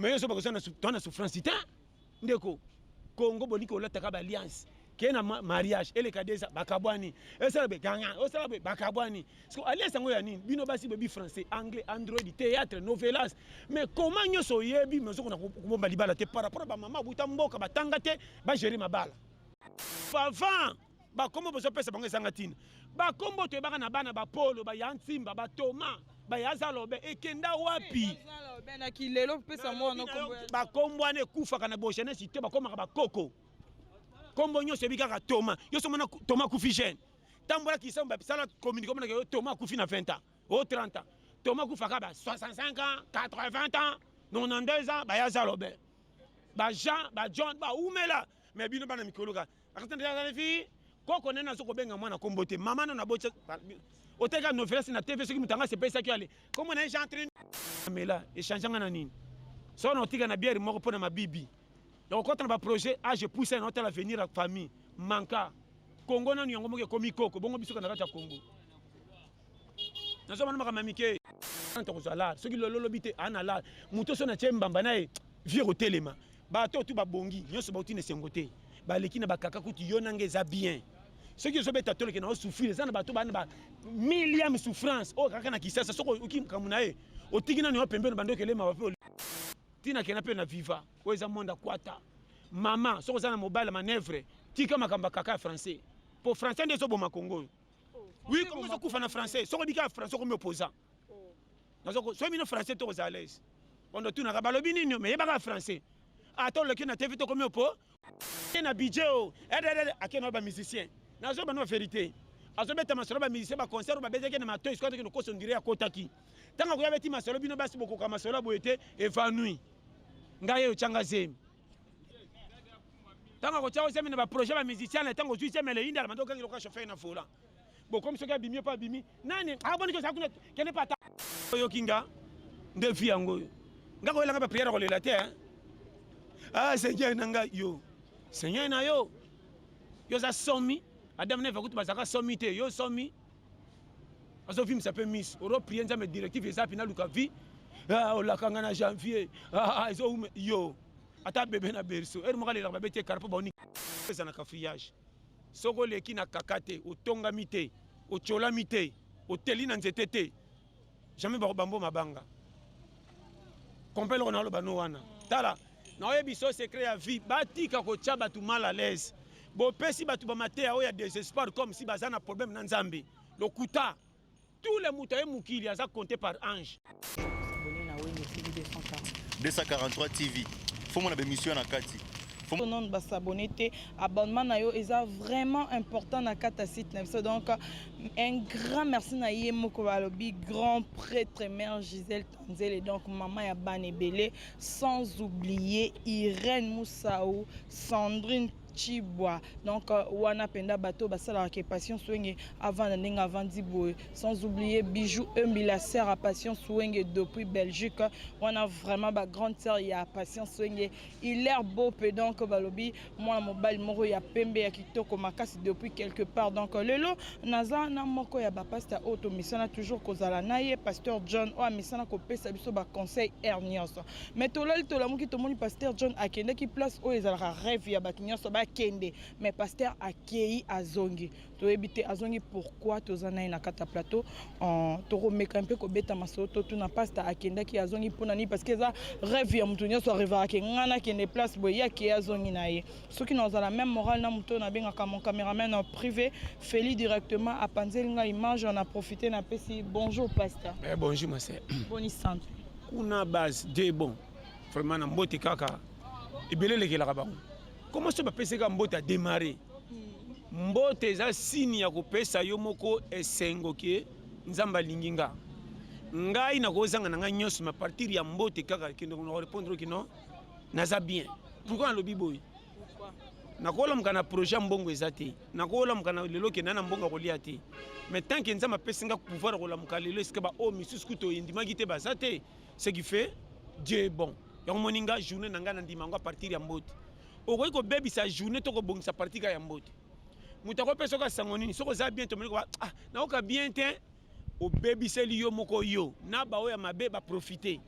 Mais yo soba kozana tona souffrance te ndeko Congo boni ko lata ka ba alliance ke na mariage eleka deza bakabwani esala be ganga osala be bakabwani siko alliance yango ya nini bino basi bebi français anglais android théâtre novelas mais comment nyonso oyebi mais ozokona kobomba libala te par rapport ba mama buta mboka batanga te ba gérer mabala pavant bakombo bozopesa bango ezanga ntina bakombo toyebaka na bana bapolo baya nsimba batoma baya zalobe ekenda wapi bakombo wana ekufaka na bogenesi te bakomaka bakoko kombo nyonso ebi kaka toma yoso mona toma kufi jeune tambola kisambo basala communique omonaka yo toma akufi na 20 ans o 30 ans toma akufaka ba 65 ans 80 ans 92 ans baya zalobe bajean bajohn baumela me bino bana mikoloka koko nene azo kobenga mwana kombo te mama nano abotya oteka novelas na tv soki moto yango asepesaki ale kombo na ye jean trin amela echange nga na nini soko na otika na biere moko mpo na mabibi ya kokota na baprojet age pousa na otala avenir ya famille manka kongo nanu yango moko ekomi koko bongo bisoka na kati ya kongo nazwa bana makambo ya mike tokozwa lala soki lolo lobi te ana lala moto so na tie mbamba na ye vie kotelema bato tu babongi nyonso bauti na esengo te baleki na bakaka kutu yo nanga eza bien soki ozobeta toleke na osouffrir eza na bato bana ba milliam souffrance oyo oh, kaka na kisasa soki oyoki makambo na ye otiki nani yo pembeni bando okelema bape ntina kena mpe na viva oyo eza monde akwata mama soki oza na mobali manevre tika makambo ya kaka ya français mpo français nde ezoboma kongo oyo oui comme ça kufa na français soko bika français comme opposant oh. nazoko soki bino français to kozala lese ondo tunaka balobi nini me yebaka français ata ah, oleki na tv tokomi opo te na budget o ededede akenda oyo bamusicien nazo bano verité azobeta masolo bamusicien baconcert oyo babetaki na matoi soki atokende koso ndire akotaki ntango akoya beti masolo bino basi bokoka masolo ya boye te evanui ngai eyo tyanga zemi ntango akotya yo zemi na baprojet bamusicien na ntango ozwi zemi eleyindala manda okangi lokola chauffeur na volant bokomi soki abimi yo mpe abimi nani aboniki ah, oza kuna kende mpe ata oyoki nga nde vi yango oyo nga koyelanga bapriere kolela te ah seigneur na ngai yo seigneur na yo yo oza somi adam neve kutu bazalaka somi te yo somi azo vimisa mpe miso oro prie nzambe directive eza mpe naluka vie ah, olaka nga na janvier ah, ah, ezoume yo ata bebe na berso ere moko alelaka babe te kara mpo baoni eza na kafriyage soki oleki na kaka te otongami te otyolami te oteli na nzete te Jamais bako bambo mabanga. Compel on a le bano wana. Tala, na oye biso secret ya vie, batika ko tia batu mal à l'aise. Bo pesi batu ba mateya oya désespoir comme si baza na problème na Nzambe. Lokuta. Tous les mutaye mukili aza compté par ange. 243 TV. Faut mon émission na kati. non basabone te abonnement na yo eza vraiment important na kati ya site na biso donc Un grand merci na ye moko balobi grand prêtre mère Gisèle Tanzele donc maman ya bana ebele sans oublier Irène Moussaou, Sandrine Chibwa donc euh, wana penda bato basalaka ke Passion Swenge avanda ndenge avandi boye sans oublier Bijou Embi la sœur à Passion Swenge depuis Belgique wana vraiment ba grande sœur ya Passion Swenge il est beau peu donc balobi mwana mobali moko ya pembe ya kitoko makasi depuis quelque part donc euh, lelo naza na moko ya bapasteur oyo tomesana toujours kozala na ye pasteur john oyo amesana kopesa biso baconseil aire nyonso mais tolali tolamuki tomoni pasteur john akendaki place oyo ezalaka rêve ya bato nyonso bakende mais pasteur akei azongi toyebi te azongi pourquoi toza naye na kata plateau euh, tokomeka mpe kobeta masolo totuna pasta akendaki azongi mpona nini parce que eza rêve ya moto nyonso arevaka ke ngai nakende place boye ye akeye azongi na ye soki nazala même morale na moto oyo nabengaka mon cameraman en privé feli directement apanzeli ngai image na profite napesi bonjour pasta eh, bonjour ma sœur boni santu kuna base de bon vraiment na mbote kaka ebele elekelaka bango comment so bapesaka mbote adémarre mbote eza sini ya kopesa yo moko esengo ke nzambe alingi nga ngai nakozanga na ngai nyonso ma partir ya mbote kaka kende na korepondre kino naza bien pourkui nalobi boye nakolamuka na projet ya mbongo eza te nakolamuka na lelo kenda na mbongo akolia te mais tant ke nzambe apesi nga pouvoir ya kolamuka lelo esika baoyo oh, misusu kutu oyendimaki te baza te ce qui fait dieu est bon yango moni nga journée na ngai nandima yango a partir ya mbote okoki kobebisa journée to kobongisa parti kaka ya mbote moto akopesa oka sango nini soki oza bien tomoni koba ah, naoka bien te obebiseli yo moko yo na baoyo ya mabe baprofite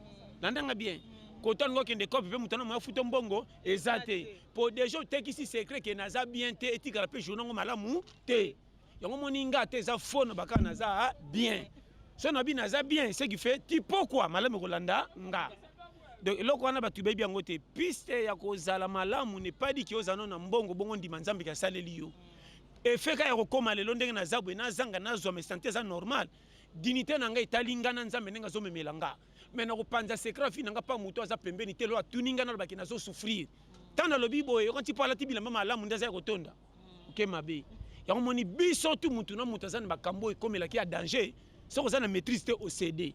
landanga bien kota olingi okende kope mpe moto anamaya futo mbongo eza te mpo deja otekisi secret ke naza bien te etikala mpe journa yango malamu te yango moni nga ata eza fo na bakaka naza ah, bien so na bino aza bien ce qui fait ti pokwa malamu ekolanda nga donc eloko wana bato bayebi yango te piste ya kozala malamu nepaliki ozala no na mbongo bongo ndima nzambe ke asaleli yo efeka ya kokóma lelo ndenge naza boye nazanga nazwa me sante eza normal dinite na ngai etali ngai na nzambe ndenge azomemela nga me nakopanza secret fi na ngai mpa moto aza pembeni te lo atuni ngai nalobaki nazosouffrir ntango nalobi boye yokanti mpo alati bilamba malamu nde aza ya kotonda oke mabe yango moni biso tu mutu na mutu aza na makambo ekomelaki ya danger soki oza na maîtrise te ocede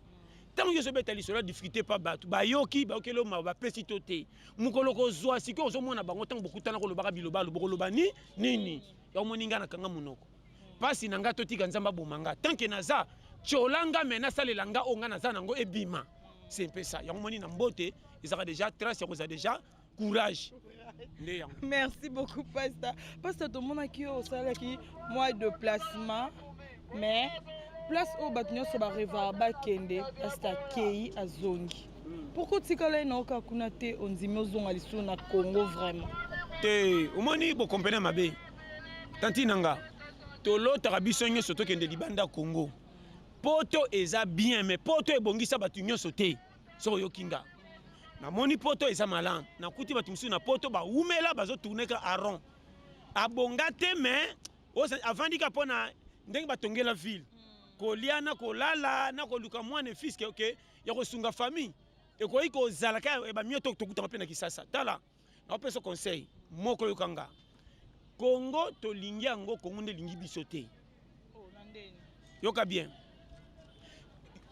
ntango nyonso obeta lisolo ya difficulté mpa bato bayoki bayokeli yo mawa bapesi to te mokolo kozwa sikoyo ozomona bango ntango bokutana kolobaka bilobalo bokoloba ni nini yango moni ngai nakanga monoko mpasi na ngai totika nzambe aboma ngai tanke naza tyola ngai me nasalela ngai oyo ngai naza nango ebima se mpesa yango moni na mbote ezalaka deja trace ya kozala deja courage nde yango merci beaucoup pasta pasta tomonaki yo osalaki mwa déplacement mais place oyo bato nyonso barevaka bakende pasta kei azongi hmm. pourkoi otikala ye na oka kuna te ondimi ozonga lisusu na congo vraiment te omoni bokompene mabe tanti na nga tolotaka biso nyonso tokende libanda congo poto eza bien mais poto ebongisa bato nyonso te soki oyoki nga namoni poto eza malamu nakuti bato mosusu na poto bawumela bazotourneka aron abonga te mais avandi ka mpo na ndenge batongela ville hmm. kolia na kolala na koluka mwana efiske oke ya kosunga famille ekoki kozala kaka ebamio tokutaka mpe na kisasa tala naopesa conseil moko yoka nga kongo tolingi yango kongo nde elingi biso te oh, yoka bien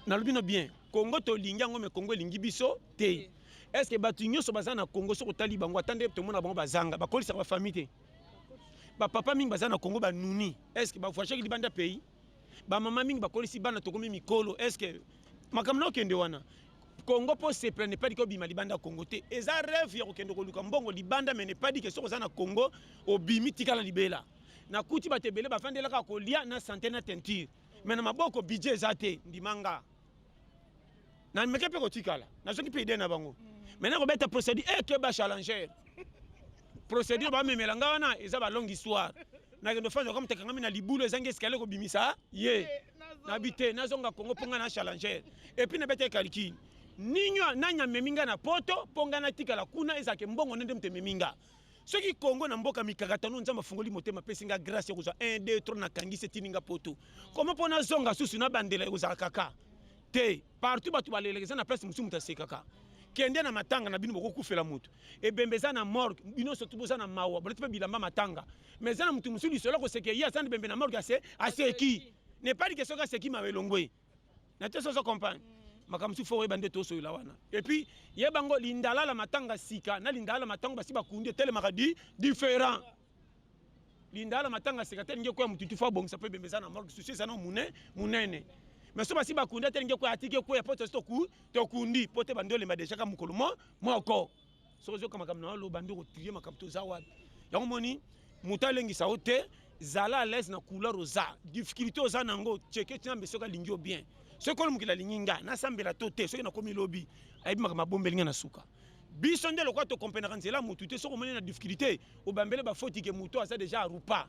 nalobi no bien kongo tolingi yango me kongo elingi biso te est ce que bato nyonso baza na kongo soki otali bango ata nde tomona bango bazanga bakolisaka bafamille te bapapa mingi baza na kongo banuni est ce que bavoyageki libanda pays ba mama mingi bakolisi bana tokomi mikolo est ce que makambo na okende wana congo mpo sepela nepadi kobima libanda ya congo te eza reve ya kokende koluka mbongo libanda me nepadi ke soki oza na congo obimi tikala libela nakuti bato ebele bafandelaka kolia na sante na teinture me na maboko budget eza te ndimanga na meke mpe kotikala nazoki mpe idee na bango mai nakobeta procédure e eh, keba challenger procédure bamemela ngai wana eza balongue histoire nakende ofanda kama tekangami na libulu ezangi escalier kobimisa ye eh, nabi te nazonga kongo mpo ngai na challenger epuis nabeta ekaliki ninyo nani amemi ngai na poto mpo ngai natikala kuna ezalaka mbongo nde nde moto ememi ngai soki congo na mboka mikakatano nzambe afungoli motema apesi nga grâce ya kozwa 1 2 3 nakangisi etindi nga poto koma mpo nazonga susu nabandela ekozala kaka te partout bato baleleka eza na place mosusu moto asekaka kende na matanga na bino bokokufela moto ebembe eza na morgue bino soki boza na mawa bolati mpe bilamba matanga mais eza na moto mosusu lisolo koseke ye aza na ebembe na morgue ase aseki nepali ke soki aseki mawa elongwe na te soso compagne mm. makambo mosusu fo oyeba nde tosoyola wana epuis yeba yango lindalala matanga sika na lindalala matango basi bakundi etelemaka di différent lindalala matanga sika te elingi ekoya motutu fo abongisa mpo ebembe eza na morgue susi eza na mune munene mais so basi bakundi atelingi ekoya atiki ekoya mpo tosi tokundi mpo te bandi olemba dejaka mokolo moko soki ozoyoka makambo na yo aloba nde okotrie makambo toza wapi yango moni moto alengisa yo te zala alaise na couleur oza difficulté oza na yango cheke nzambe soki alingi yo bien soki kolo mokili alingi ngai nasambela to te soki nakomi lobi ayebi makambo abombeli ngai na suka biso nde lokola tokomprenaka nzela ya motu te soki omoni na difficulté obambele bafoti ke motu aza deja arupa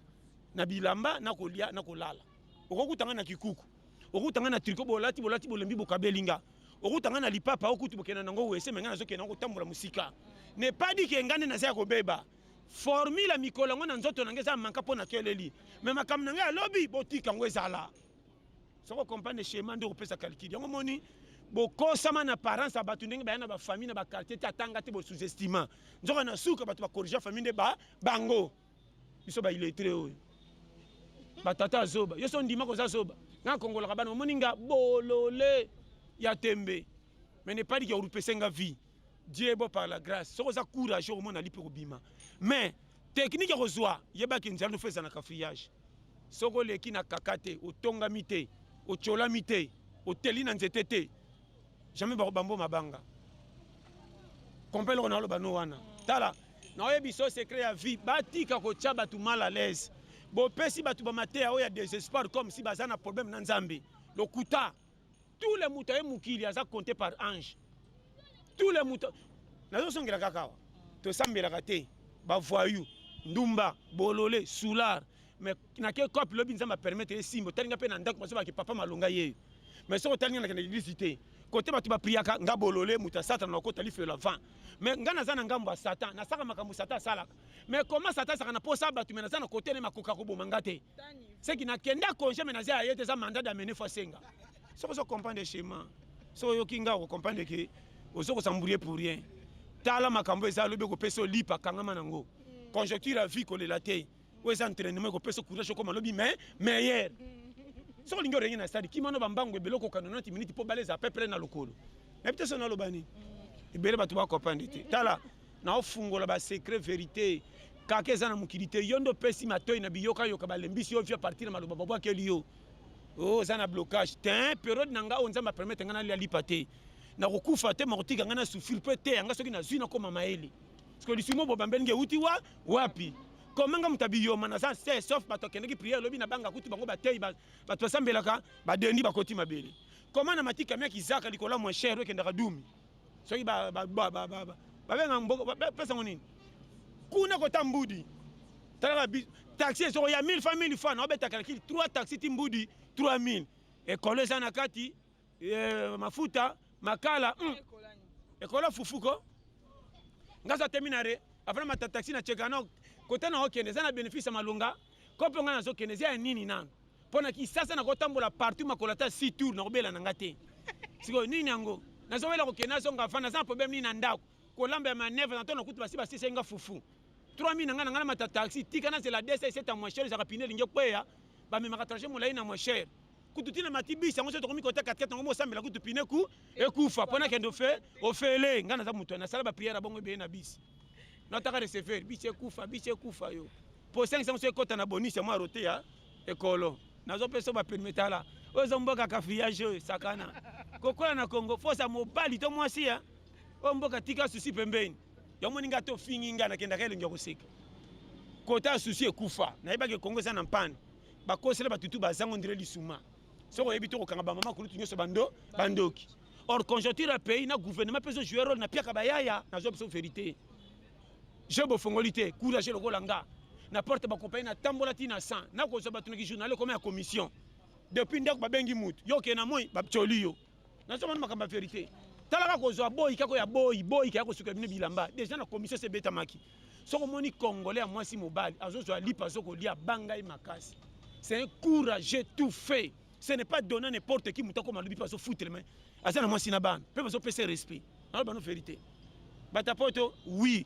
na bilamba na kolya na kolala okokutanga na kikuku okuta nga na triko bolati bolati bolembi bokabeli nga okuta nga na lipapa okutu bokenda nango wese me nga nazokenda ngo kotambola mosika ne pas dit ke nga nde naza ya kobeba formule ya mikolo yango na nzoto na ngai eza manka mpo nakeleli me makambo na ngai ya lobi botika yango ezala soko comprendre schéma nde okopesa calcul yango moni bokosama na parents ya bato ndenge baya na bafamille na baquartier te atanga te bosous-estima nzoka na suka bato bakorrigea famille nde ba bango biso ba illettré oyo batata zoba yo so ndima koza zoba nga kongolaka bana omoni nga bolole ya tembe mais ne pas dire orupese nga vie dieu bo par la grâce soki oza courage okomona lipe kobima mais teknike ya kozwa yebaki nzela nofa eza na kafriyage soki oleki na kaka te otongami te otyolami te oteli na nzete te jamais bako bambo mabanga comprend eloko naloba no wana tala naoyebi so secret ya vie batika kotya bato mal à l'aise bopesi bato bamateya oyo ya desespoir comme si baza na problème na nzambe lokuta tout le moto aye mokili aza compte par ange tout le moto nazosongela kaka awa tosambelaka te bavoyou ndumba bolole soulard mais na ke cop lobi nzambe a permettre ye simbo tali nga pe na ndako masoba ke papa malonga ye mais soko tali nga na kende l'église te kote bato bapriaka nga bolole moto ya satana na okota lifelo ya vent mais nga naza na ngambo ya satan nasaka makambo satan asalaka mais koma satan asaka na posa bato me naza na kote ne makoka koboma nga te seki nakenda congé me naza ya ye te eza mandat d'amene fo asenga soko ozo comprendre chemin soko oyoki nga okocomprendre ke ozo kosambourie pour rien tala makambo eza lobi okopesa olipa kangama nango conjoncture ya vie kolela te oyo eza entraînement ekopesa courage okoma lobi mais meilleur soki olingi orenge na stade kimano bambangu ebele okokana 90 minutes mpo bale eza peu près na lokolo nayebi te so naloba nini ebele bato bakopande te tala naofungola basecret verité kaka eza na mokili te yo nde opesi matoi na biyokayoka balembisi yo via partir na maloba babwakeli yo oh, oza na blocage te periode na ngai oyo nzambe apermete ngai nalia lipa te nakokufa te makotika ngai na souffrir mpe te yanga soki nazwi nakoma mayele siko lisumu bobambeli nge euti wa wapi komanga moto abiyoma naza se sauf bato akendaki priere lobi na banga kutu bango bateyi bato basambelaka badendi bakoti mabele koma na matika miaki zaka likolo ya moins cher ekendaka dumi soki babenga pesa ngo nini kuna kota mbudi talaka taxi ezoko ya 1000 fa 1000 fa na obetaka lakili 3 taxi ti mbudi 3000 ekolo eza na kati eh, mafuta makala mm. ekola fufu ko nga aza temi na re apres mata taxi na cheka no kota na okende eza na bénéfice ya malonga kope nga nazokende eza ya nini nanu mpo na kisasa nakotambola partout makolo ata si tour nakobela na nga te sikoyo nini yango nazowela kokende azonga fana aza na problème nini na ndako kolamba ya manevre na to nakuti basi basisa nga fufu 3000 na nga na nga na mata taxi tika nazela desa eseta moisher ezaka pine elingi ekweya bamemaka trajet molai na moisher kutu tina mati bisi yango soki tokomi kota katikati yango mosambela kutu pine ku ekufa mpo nakende ofe ofele ngai naza moto nasala bapriere ya bongo ebele na bisi nataka receveur bisi ekufa bisi ekufa yo mpo osengi sango so ekota na bonisi ya mwa rote ya ekolo nazopesa baperme tala oyo eza mboka kafriyage oyo sakana kokola na congo fosa mobali to mwasi ya oyo mboka tika susi pembeni yamoni ngai to ofingi ngai nakendaka elongi ya koseka kota susi ekufa nayebaki ekongo eza na mpani bakosela bato tu bazango ndire lisuma soki oyebi te kokanga bamama kulutu nyonso bando bandoki or conjoncture ya pays na gouvernement mpe ezojouer role na piaka bayaya nazwa biso verité je bofongoli te courage lokola nga na porte bakompani natambola ti na 100 nakozwa bato na kijournal ekoma ya commission depuis ndako babengi motu yo okee na moi baptioli yo nazo mona makambo ya verite talaka kozwa boyi kako ya boyi boyi kaya kosuka bino bilamba deja na commission se betamaki soki omoni congolais ya mwasi mobali azozwa lipa azokolia banga ye makasi c'est un courageux tout fait ce n'est pas donné n'importe qui moto akoma lobi mpe azofutre me aza na mwasi na bana mpe bazopesa respect naloba no verité bato ya poto oui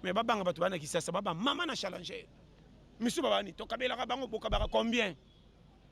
mais babanga bato bana kisasa baba mama na challenger misusu babani tokabelaka bango bokabaka combien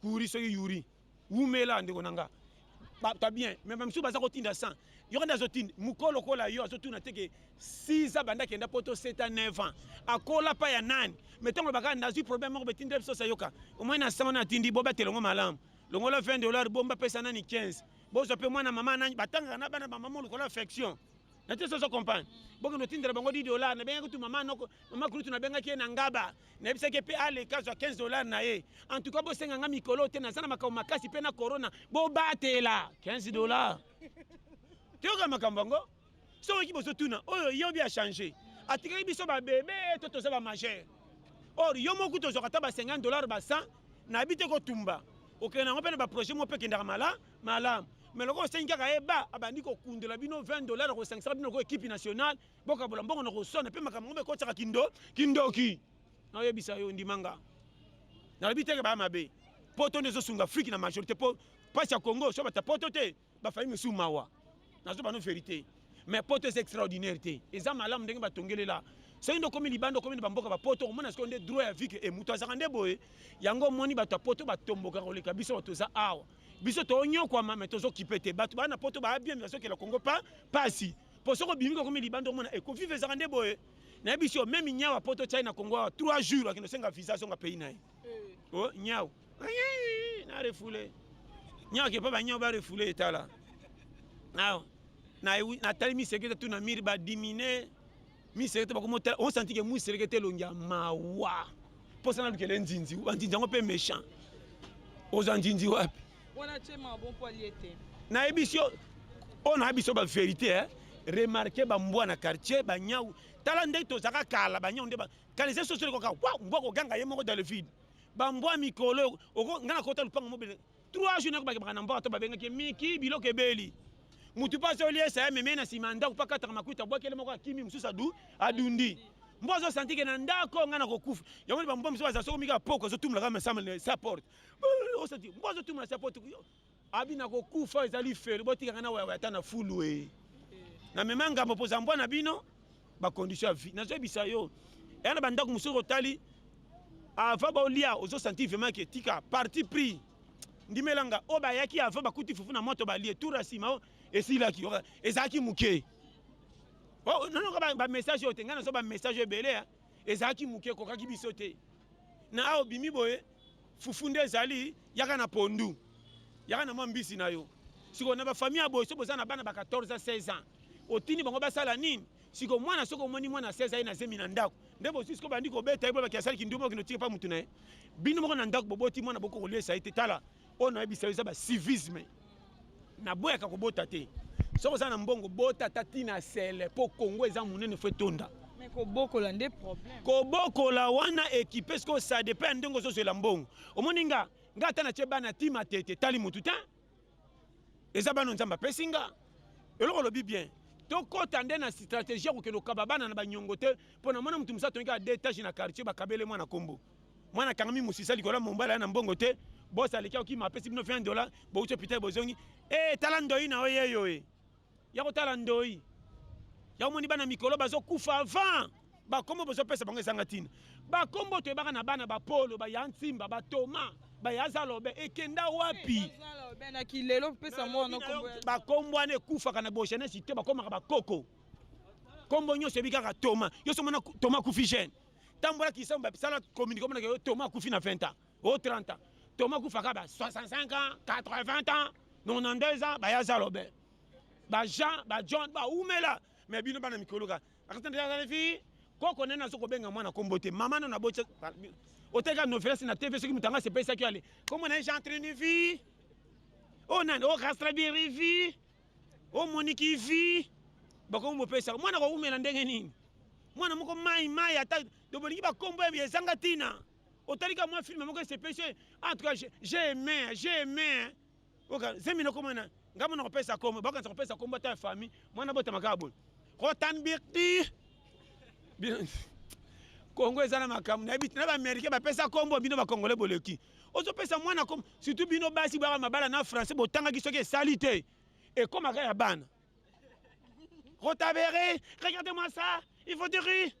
Kuri soki yuri wumela ndeko na nga bato bien mais bamisusu baza kotinda san yo kanda azotinda mokolo lokola yo azotuna te ke 6 abanda akenda poto 7 a 9 ans akola pa ya nani mais ntango olobaka nazwi problème moko betindela biso sayoka omoi na san wana atindi bobatela yango malamu longola 20 dollar bomba pesa nani 15 bozwa mpe mwana mama nani batangaka na bana bamama lokola affection na te sozo comprendre bokende otindela bango 10 dollar nabengaki tu mama noko mama kulutu nabengaki ye na ngaba nayebisaki mpe aleka azwa 15 dollars na ye en tout cas bosenga nga mikolo te naza na makambo makasi mpe na corona bobatela 15 dollars toyoka makambo yango soki bozotuna oyo yobi achange atikaki biso babebe to toza bamajeur or yo moku tozwaka ata ba 50 dollars ba 100 nayebi te kotumba okende yango mpe na baprojet moko mpe ekendaka mala malamu me lokola osengi kaka ye ba abandi kokundola bino 20 dollars kosangisaka bino lokola ekipe nationale bokabola mbongo na koswana mpe makambo yango ekotisaka kindo kindoki naoyebisa yo ndimanga nalobi teke baya mabe poto nde ezosunga afrike na majorité mpo mpasi ya congo so bata poto te bafai mosusu mawa nazo bano verité mais poto eza extraordinaire te eza malamu ndenge batongelela soki nde okomi libanda okomi na bamboka bapoto okomona sikoyo nde droit ya vike e moto azalaka nde boye yango omoni bato ya poto batombokaka koleka biso bato oza awa biso toonyokwama me tozokipe te bato baa na poto baa bien me bazokela kongo pa pasi po soki obimi kokomi libanda omona eko vive ezaka nde boye nayebi si omemi nyau ya poto chai na congo awa trois jours akende osenga visa azonga pays na ye eh. o oh, nyau na refoule nyau ake mpo banyau barefoule etala awa natali miseki te tu na mire badimine miselekete bakomi otala osanti ke mwiselekete elongi ya mawa mposa na lukele nzinzi banzinzi yango mpe méchant oza nzinzi wapi nayebisi yo oyo nayebisi yo baverité eh? remarke bambwa na quartier banyau tala ndenge tozalaka kala banyau nde kanisa soso ekoka mbwa koganga ye moko dans le vide bambwa mikolo nga nakota lupango mobele 3 jours nako bakebaka na mboka to babengaki miki biloko ebeli mutu mpe azoliesa ya meme na nsima ya ndako mpe akataka makuta abwakele moko akimi mosusu adu adundi mbo azosanti ke na ndako ngai nakokufa yango ni bambo mosusu baza soko mika poko azotumula kaka masamble sa porte osanti mbo azotumula sa porte abi nakokufa ezali felo botikaka na wayawaya ata na fulu e na mema ngambo mpoza mbwa na bino ba condition ya vie nazoyebisa yo eya na bandako mosusu otali avant baolia ozosanti vraiment ke tika parti pris ndimela nga oyo bayaki avant bakuti fufu na moto balie tour ya nsima oh, esilaki oh, ezalaki moke oh, nonoka bamessage oyo te ngai nazo bamessage ebele ezalaki moke ekokaki biso te na awa obimi boye fufu nde ezali yaka na pondu yaka na mwa mbisi na yo sikoyo na bafamille ya boye so boza na bana ba 14 a 16 ans otindi bango basala nini sikoyo mwana soki omoni mwana 16 aye na zemi na ndako nde bozwi sikoyo bandi kobeta ye boye baki asali kindumba okende otika mpa motu na ye bino moko na ndako boboti mwana boko koliesa ye te tala oyo nayebisa yo eza ba civisme naboyaka kobota te soki oza na mbongo bota ata tina sele mpo kongo eza monene fo etonda kobokola nde problème kobokola wana ekipe sikoyo ça dépend ya ndenge ozozwela mbongo omoni nga nga ata natye bana tima te te tali motu te eza bana nzambe apesi nga eloko olobi bien tokɔta nde na stratégie ya kokende kokaba bana na banyongo te mpo na mwana motu mosusu atongi kaka detage na quartier bakabele mwana nkombo mwana kangami musisa likolo ya mombala na mbongo te bosi aleki akokima apesi bino 20 dola bouti hôpital bozongi e tala ndoi na oyo yeyo e ya kotala ndoi ya omoni bana mikolo bazokufa avant bakombo bozopesa bango ezanga ntina bakombo toyebaka na bana bapolo baya nsimba batoma baya zalobe ekenda wapi bakombo wana ekufaka na bogenesi te bakomaka bakoko kombo nyonso ebi kaka toma yo somona toma kufi gene tambola kisango ba sala communiquer mona yo Thomas kufi na 20 ans au 30 ans Thomas kufa ka ba 65 ans 80 ans 92 ans ba ya zalobe ba Jean ba John ba umela mais bino bana mikolo ka akata ndia zali fi koko nene azo kobenga mwana kombo te mama nana bocha oteka novelas na tv soki mutanga se pesa ki ale kombo na Jean Trinivi oh nani oh Rastra Birivi o moniki vi bakomi bopesaka mwana kowumela ndenge nini mwana moko mai mai ata to bolingi bakombo ya ezanga ntina otalika mwa filme moko esepesi en tout cas j'ai aimé j'ai aimé oka zemi nakoma na ngai mwana kopesa kombo bakanisa kopesa kombo ata ya famille mwana botama kaka boye kotanbirti kongo eza na makambo nayebi na baaméricain bapesa kombo bino bakongole boleki ozopesa mwana comme surtout bino basi baka mabala na français botangaki soki esali te ekomaka ya bana rotabere regarde moi ça il faut dire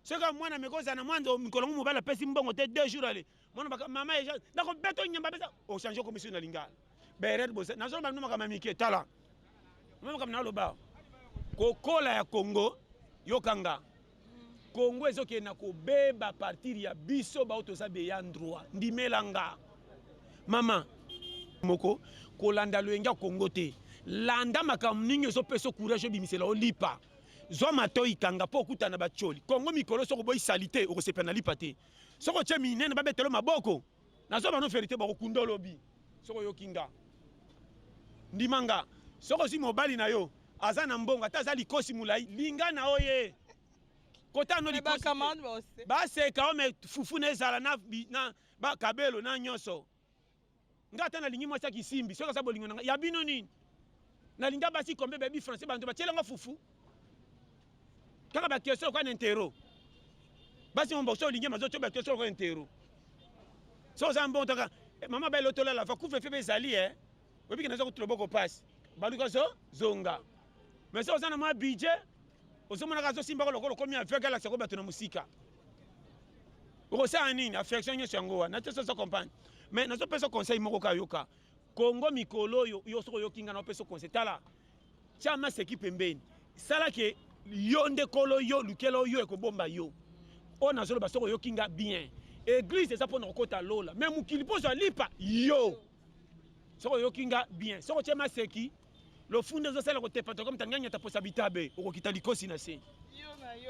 soki mwana meko ozala na mwana mikolo ngo mobali apesi mbongo te deux jours ale mwana mama eja nakobeta onyamba pesa ochange okomisi na lingala beret boza nazoloba bino makambo ya mike tala ma makambo naloba kokola ya congo yokanga congo ezokende na kobeba partir ya biso bao toza beya ndroit ndimela nga mama moko kolanda loyenge ya congo te landa makambo nini ezopesa courage obimisela olipa zwa matoi kanga mpo okutana na bacoli kongo mikolo soki oboyi salite okosepela na lipa te soki otye minene babetelo maboko nazo bano verite bakokunda olobi soki oyoki nga ndima nga soki ozwi mobali na yo aza na mbongo ata aza likosi molai linga na yo ye kota no likosi baseka ome fufu na ezala na, na bakabelo na nyonso nga ata nalingi mwasi ya kisimbi soki aza bolingo na nga ya bino nini nalinga basi kombe bayebi français banto batyela nga fufu kaka ba question kwa intero basi mon boxo lingi mazo choba question kwa intero so za mbon taka eh, mama ba lotola la fa kufe febe zali eh obi kina zo kutulo boko pass balu ko zo zonga mais so za na ma budget ozo mona ka zo simba ko lokolo komi aveugle la sako bato na musika okosala nini affection nyonso yango wana te soso comprendre mais nazopesa conseil moko kayoka kongo mikolo oyo yo soki oyoki ngai naopesa conseil tala Tia maseki pembeni. Sala ke yo nde kolo yo lukela yo ekobomba yo. Oyo nazoloba soko oyoki nga bien. Eglise eza pona kokota lola. Mais mokili pozo alipa yo. Soko oyoki nga bien. Soko tia maseki lofunde ezosala kotepa tokomi tanganya taposa bitabe okokita likosi na se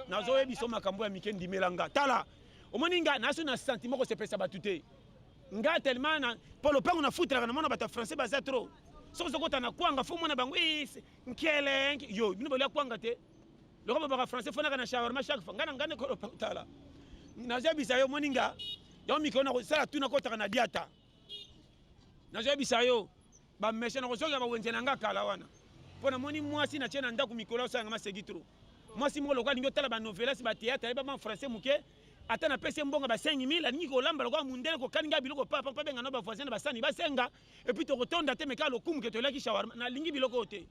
nazoyebisa makambo ya mike ndimela nga tala omoni nga naso na sentiment kosepesa bato te nga tellement na po lopango na futelaka na mona bato ya français baza trop soki ozokota na kwanga fo mona bango nkele yo bino bolia kwanga te loko babaka français fonaka na shawarma chaque fois nga na nga ndeko lopango tala nazoyebisa yo moni nga yango mikolo nakosala tu nakotaka na diata nazoyebisa yo bamesha nakozokela bawenze na nga kala wana mpo namoni mwasi natie na ndako mikolo asalanga masegi trop mwasi moko lokola alingi otala banovelas bateatre ayeba ba français moke ata na pese mbonga ba 5000 alingi kolamba lokola mundele kokani ngai biloko papa mpe abenga na ba voisin na basani basenga epuis tokotonda te meka lokumu ke toyelaki shawarma nalingi biloko oyo te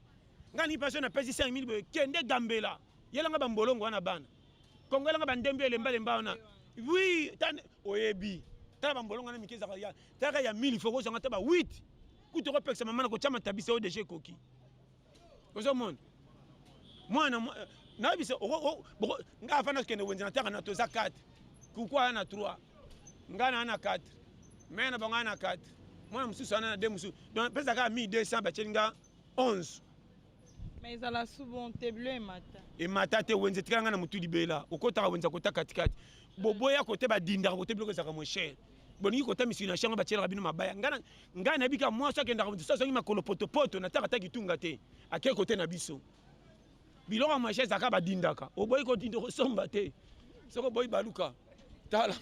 ngai alingi mpe so napesi 5000 boye kende gambela yelanga bambolongo wana bana kongo yelanga bandembi elembalemba wana wi oyebi tala bambolongo wana mike ezaka ya talaka ya 1000 fo kozanga ata ba 8 kutu okopekisa mama na kotyama tabisa oyo deja ekoki ozomona mwana euh, nayebisa ngai afanda kokende wenze nataka na toza 4 kuku aya na 3 ngai naa na 4 mai na bango aya na 4 mwana mosusu ana na de mosusu donc apesa kaka 1200 batyeli nga 11 mais ezala souvent te bleu emata emata te wenze etikala ngai na motu libela okotaka wenze akota katikati boboya kote badindaka kote biloko ezalaka mo cher bolingi kota misiki na shango batyelaka bino mabaya ngai Ngai nayebi kaka mwasi akendaka mosusu azongi makolo potopoto na taka ta kitunga te ake kote na biso biloko ya maisha ezalaka badindaka oboyi kodinda okosomba te soki oboyi baluka tala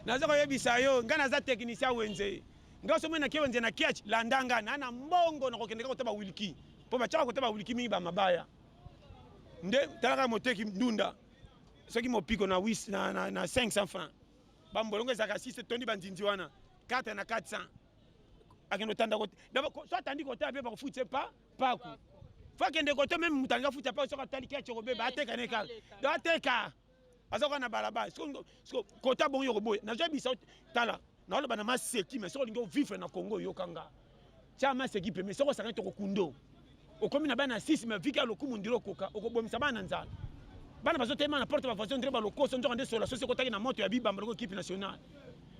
naza koyebisa yo ngai naza teknicien wenze ngai soki nake wenze na kiach landa ngai na na mbongo nakokendeka kota bawiliki mpo batiaka kota bawiliki mingi bamabaya nde talaka moteki ndunda soki mopiko na 500 francs ba mbolongo ezalaka 6 etondi ba nzinzi wana 4 na 400 akende otanda kote so atandi kotala mpe bakofutisa pa paku fo akende kote meme moto alinga futa paku soki atali keche kobeba ateka ne kaka do ateka aza kaka na balabala kota bongo yokoboya nazoyebisa tala naoloba na maseki me soki olingi ovivre na congo oyokanga Tia masse qui peut mais soko sakana toko kundo. Okomi na bana 6 mais vika lokumu ndiro koka okobomisa bana nzala. Bana bazo tema na porte ba voisin ndiro ba lokoso ndoka nde sola sosi kotaki na moto ya bibamba loko équipe nationale.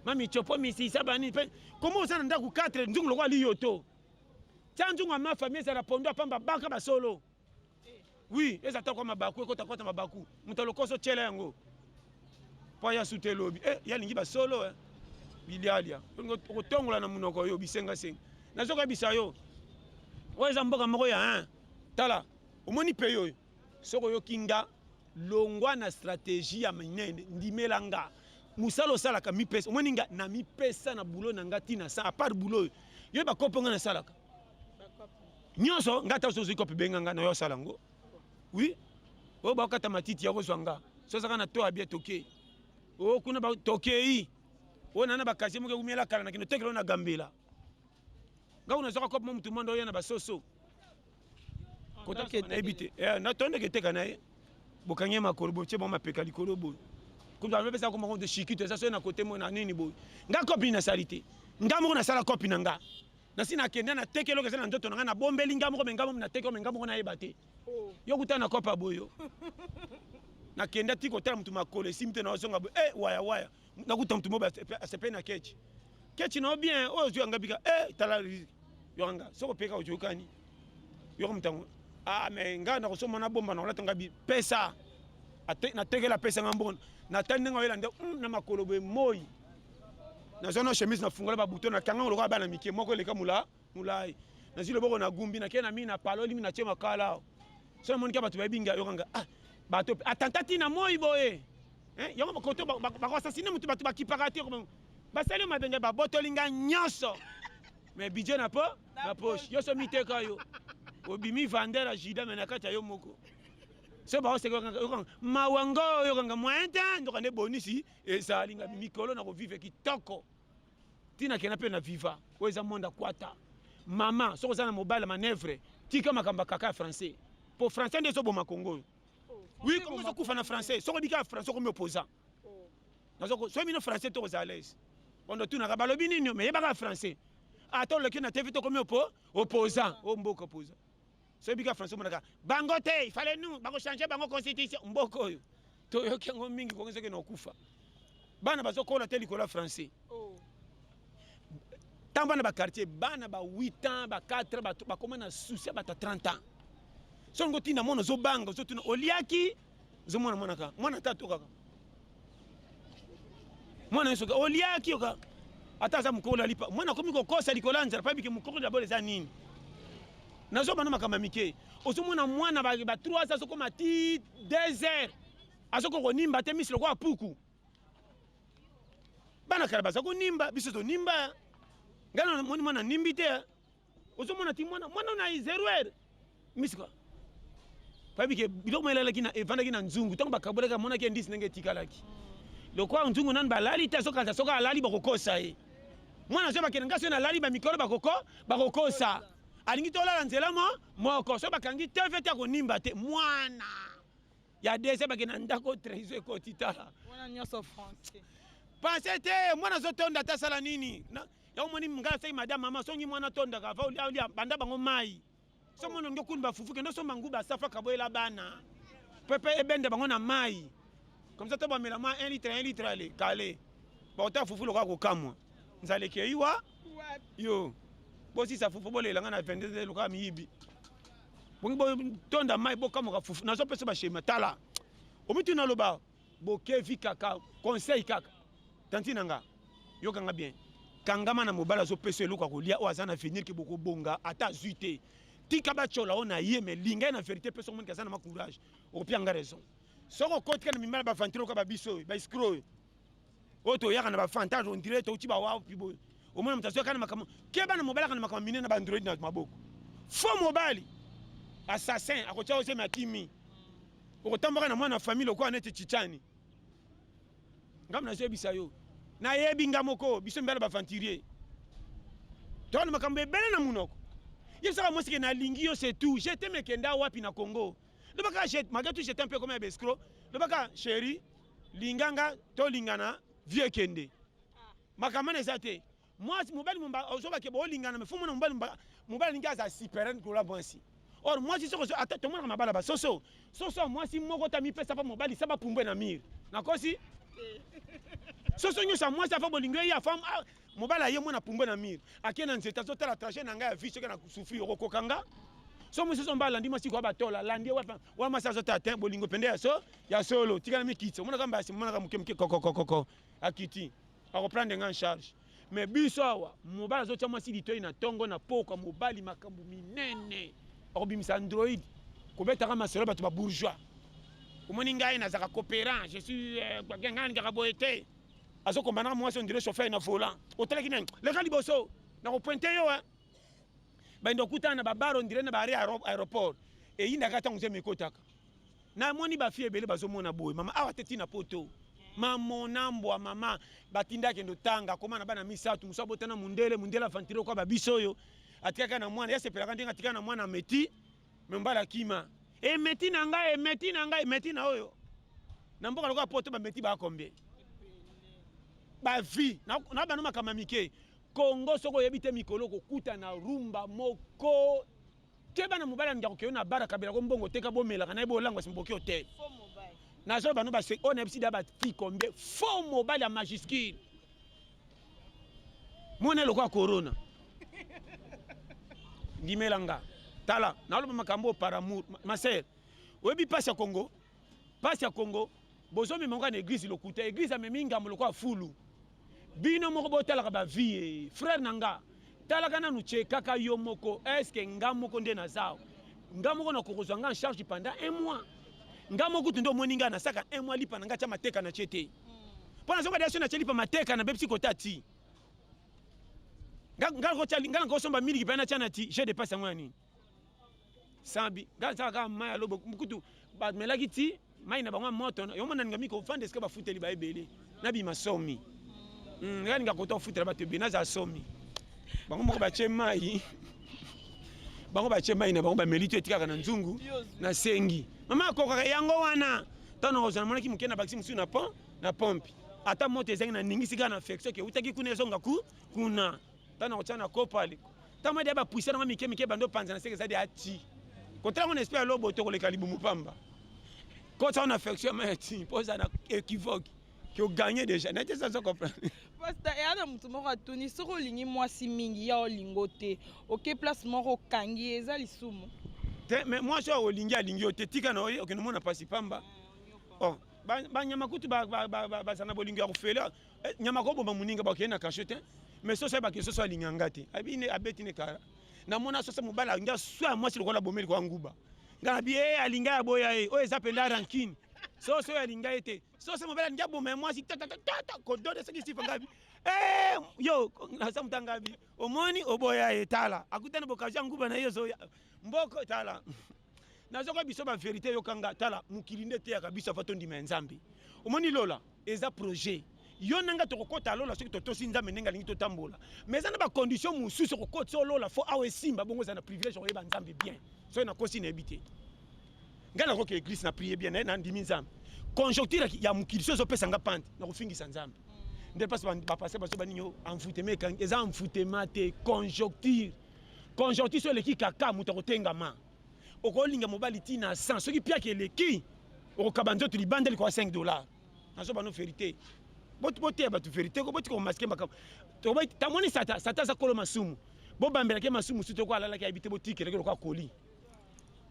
Mami chopo misi sabani pe komo osana ndaku 4 nzungu loko ali yoto. Tia nzungu ma famille ezala pondo apamba baka basolo. oui eza ta kwa mabaku ekota kota mabaku moto lokoso tyela yango mpo ya suta elobi e eh, ye alingi basolo eh. bilialia okotongola na monoko yo bisengasenga nazokoyebisa yo oyo eza mboka moko ya hein. tala omoni pei oyo soki oyoki nga longwa na strategie ya minene ndimela nga mosala osalaka mipesa omoni nga na mipesa na boulot na nga ntina sa apart boulot oyo yo bakopo nga nasalaka nyonso nga ata ozozwi kope benga nga nayo asala yango wi oyo bakokata matiti ya kozwa nga so azaka na to abia tokei o kuna tokei oyo nana bakasie moke umela kala nakende otekela oyo na gambela nga kuna azwaka kope mo motu mwanda oya na basoso kotayebi te eh, natondeke eteka na ye bokangi ye makolo botie bango mapeka likolo boye kutu alobesa koma konde shikito eza soki na kote mo na nini boye nga kopi nasali te nga moko nasala kopi na nga nasi nakenda na teke eloko eza na nzoto na ngai nabombeli ngai moko mengai moko na teke mengai moko nayeba te oh. yo kuta na kopa boyo nakenda ti kotala motu makolo esimi te naozonga boye e waya waya nakuta motu moko asepeli na kechi kechi nao bien oyo ozwi yanga bika e tala yanga soko peka ojokani yoko motango a ah, me ngai nakosomba na bomba nakolata ngai bipesa natekela apesa ngai mbona natali ndenge oyela nde hmm, na makolo boye moi nazwa na chemise nafungola babuto na kanga lokola bana mike moko eleka mula mulai nazwi loboko na gumbi nakei na mii na palo elimi natie makala awa so namoniki bato bayebi ngai yokanga ah, bato atanta ti na moi boye eh, yango koto bakoasasine motu bato bakipaka te basali mabe ngai babotoli ngai nyonso mais bidje na po na poche yo so miteka yo obimi vander ya juda me na kati ya yo moko so baoseka yokanga mawa ngo yokanga moyen te ndoka nde bonisi ezali nga mikolo na kovive kitoko ntina kena mpe na viva oyo eza monde akwata mama soki oza na mobali ya manevre tika makambo ya kaka ya français mpo français nde ezoboma kongo oyo wi kongo ezokufa na français soki obika ya français okomi opposant soki bino français to kozala lese ondo tunaka balobi nini me yebaka ya français ata oleki na tevi tokomi opo opposant o mboka opposant soki bika français omonaka bango te ifale nu bakochange bango constitution mboka oyo toyoki yango mingi kongi soki naokufa bana bazokola te likolo ya français oh. ntango bana baquartier bana ba 8 ans ba 4 ans bakoma na souci ya bato ya 30 ans soki ngotina mona ozobanga ozotuna oliaki ozo mwana mwana ka mwana ata atokaka mwana yesu oliaki yoka ata aza mokolo alipa mwana akomi kokosa likolo ya nzala pabike mokoko dabolo eza nini nazoba na makambo ya mike ozomona mwana ba 3 azokoma ti 2 heures azokoka konimba te misi lokola puku bana kala baza konimba biso tonimba ngai namoni mwana nimbi te ozomona ti mwana mwana na zero heure misika payebi ke biloko mayelalaki na evandaki na nzungu ntango bakabolaki amonaki endisi ndenge etikalaki lokola nzungu nani balali te azokanisa soki alali bakokosa ye mwana azwi bakende ngai soki nalali bamikolo bakoko bakokosa alingi tolala nzela mo moko soki bakangi tv te akonimba te mwana ya dese bakende na ndako traiso ekoti tala wana nyonso français pense te mwana azotonda ata asala nini ya omoni ngai aseki madame mama songi mwana tondaka va olia banda bango mai so mwana olingi okuni bafufu kende osomba nguba safa kaboyela bana pepe ebenda bango na mai comme ça to bamela mwa 1 litre 1 litre ale kale bakota fufu lokola kokamwa nzala ekei wa yo bosisa fufu bolela ngai na 22 lokola miyibi bongi botonda mai bokamoka fufu nazopesa bashema tala omituna loba Bokevi kaka conseil kaka. Tanti na nga yoka nga bien. Kangama na mobali azopesa eloko ya kolia oyo aza na avenir ke bokobonga ata azwi te. Tika batyola oyo na ye me linga ye na verite mpe soki omoni aza na ma courage okopia nga raison. Soki okotika na mimala bavantire oka babiso oyo baescro oyo oyo toyaka na bafantage ondire touti bawapi boye omona moto azwaka na makambo keba na mobali aka na makambo mine na baandroid na maboko fo mobali assassin akotia ozemi akimi okotambaka na mwana famille lokola neti chichani ngambo nazoyebisa yo nayebi nga moko biso mibala baventurier tokana makambo ebele na monoko yebisaka mwasi ke nalingi yo c'est tout je te mekenda wapi na congo lobaka malgré tout j'étais un peu comme ya bescro lobaka chéri linganga tolingana vieux kende makambo wana eza te Mwasi mobali mumba ozoba ke bolingana me fumu na mobali mumba mobali alingi aza superan kola mwasi. Or mwasi soko ata tomonaka mabala ba soso soso mwasi moko ta mipesa pa mobali saba pumbe na mire nakosi soso nyonso ya mwasi afa bolingo ye afa ah, mobali aye mwana pumbe na mire ake na nzete azotala trajet na ngai ya vie soki na souffrir okokoka nga so mosusu mba alandi mwasi koya batola alandi wa mwasi azotala te bolingo mpende ya so ya solo tikala mikitisa omonaka mbasi omonaka moke moke kokokokoko akiti akoprendre nga en charge mais biso awa mobali azotya mwasi litoi na ntongo na pokwa mobali makambo minene akobimisa android kobetaka masolo bato ba bourgeois omoni ngai nazalaka coopérant je suis euh, ngai ningaka boye te azokombana mwasi ondire chauffeur na volant otalaki nani leka liboso nakopointe yo eh. baindo okutana na babaro ondire na baare aéroport eyindaka ntango nzembo ekotaka Na moni ba fille ebele bazo mona boye mama awa te tina poto. Mamona mbwa mama batinda kendo tanga koma na bana misatu musa botana mundele mundele avantire kwa babiso oyo atikaka na mwana yasepelaka ndenge atika na mwana meti membala kima emeti eh, na ngai emeti eh, na ngai emeti eh, na oyo na mboka lokola poto bameti bakombe bavi na bano makambo mike kongo soki oyebi te mikolo kokuta na rumba moko keba na mobali ya ndako keyo na bara kabela ko mbongo teka bomelaka na ye bolangwa sima boki ote nazolo bano base oyo nayebisi da bati combien faux mobali ya majuscule mona eloko ya corona ndimela nga tala naloba makambo oyo par amour ma sere oyebi mpasi ya congo pasi ya congo bozomema ngo na eglise lokuta eglise amemi ngambo lokola fulu bino moko botalaka bavie frère na nga talaka nanu chekaka yo moko eske nga moko nde nazao nga moko nakokozwa nga en charge pendant un mois nga moko kutu nde omoni nga nasaka un mois lipa na nga tya mateka na tie te mpo hmm. nazonga deso natya lipa mateka na bebisi kota ti nga nakosomba miliki mpe natya na ti je depasse yango ya nini sambi nga azaka kaka mai ya lobo kutu bamelaki ti mai na bango ya moto yango mona ninga mikofanda esika bafuteli ba ebele nabima somi hmm, nga ninga kota ofutela bato ebele nazala somi bango moko batye mai bango batye mai na bango bameli to etikaka na nzungu nasengi mama akokaka yango wana ntango nakozwa namonaki moke na bakisi mosusu na pont na pompe ata moto ezangi na ningisi kaka na feksoki eutaki kuna ezonga ku kuna tana kotia na kopa liko tama dia bapuisa nango mike mike bando panza na seke ezadi ati kotala ngo na esprit ya lobo to koleka libumu pamba kotsa na affection ma ati po za na equivoque que oganye déjà nete eza zo comprendre pasta eya na moto moko atuni soki olingi mwasi mingi ya olingo te oke place moko okangi ye eza lisumu te mais mwasi oyo olingi alingi yo te tika na oye okende omona mpasi pamba oh, banyama kutu bazala na bolingo ya kofela Eh, nyama ko boma muninga ba kena kasho te. Mais soso ba kisoso alinga ngate. Abi ne abeti ne kara. Na mona soso mobala nga swa mwasi lokola bomeli kwa nguba. Nga bi eh alinga ya boya eh. Oyo eza penda rankine. Soso ya linga ete. Soso mobala nga boma mwasi ta ta ta ta ko dode saki sifa ngabi. Eh yo na sa mutanga bi. Omoni oboya etala. Akutana bokaja nguba na yo zo mboko tala. nazoka biso ba verite yoka nga tala mokili nde eteyaka biso ava tondima ya nzambe omoni lola eza projet yo na ngai tokokota lola soki totosi nzambe ndenge alingi totambola mais eza na bacondition mosusu okokotisa olola fo awa esimba bongo eza na privilège okoyeba nzambe bien soki nakosi nayebi te ngai nakoki eglise na prie bien naye nandimi nzambe conjoncture ya mokili so ezopesa ngai pante nakofingisa nzambe nde mpasi bapase baso banini envoutema ekangi eza envoutema te conjoncture Conjonctus eleki kaka moto akotengama. Okolinga mobali ti na 100 soki piaki eleki okokaba nzoto libanda likoya 5 dollars. Nazo bano verite. Bot boteya bato verite ko boti ko maske makambo. Tobai tamoni sata sata za kolo masumu. Bo bambela ke masumu suto ko alala ke abite botikela ke lokwa koli.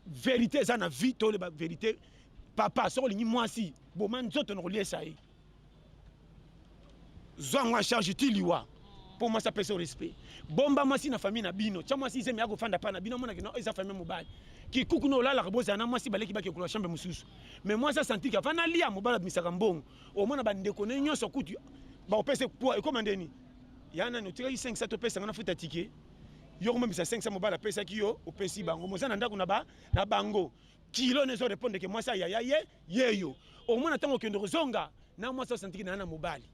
Verite za na vie tole ba verite. Papa soko lingi mwasi boma nzoto na koliesa ye. zwa yango en charge ti liwa mpo mwasi apesa respect bomba mwasi na famille na bino tya mwasi izemi akofanda mpa na bino amonaki no eza famille mobali kikuku na olalaka bozala na mwasi baleki bakekola chambre mosusu mais mwasi asantiki afa nalia mobali abimisaka mbongo omona bandeko na ye nyonso kutu bakopesa poids ekoma ndeni ya nani otikaki 500 topesanga na futa tike yo komemisa 500 mobali apesaki yo opesi bango moza na ndako na bango Kilo nezo repondre ke mwasi ya yaya ye yeyo omona ntango okende kozonga na mwasi osantiki na na mobali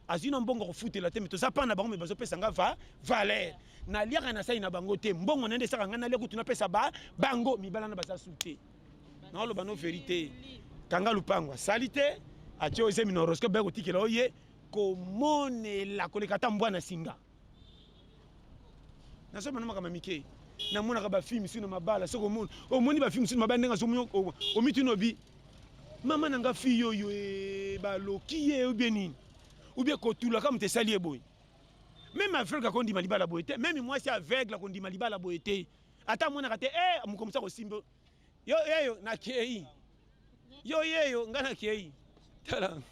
azwi na mbongo kofutela te me toza mpana bango me bazopesa nga va valeur naliaka na sai na bango te mbongo na nde esaka ngai nalia kutu napesa ba bango mibala na baza su te naoloba no verite kanga lupango asali te atie ozemi na horoscope baye kotikela oye komonela koleka ata mbwa na singa nazo mona makambo mike namonaka bafilme sino mabala soki omoni omoni bafilme sino mabala ndenge azomoni omituni obi mama na nga fille oyo eh, baloki ye obie nini obie kotulaka moto esali ye boye meme aveugle akondima libala boye te meme mwasi aveugle akondima libala boye te ata amonaka te e eh, mokomosi akosimba yo eyo nakei yo yeyo ngai nakei tala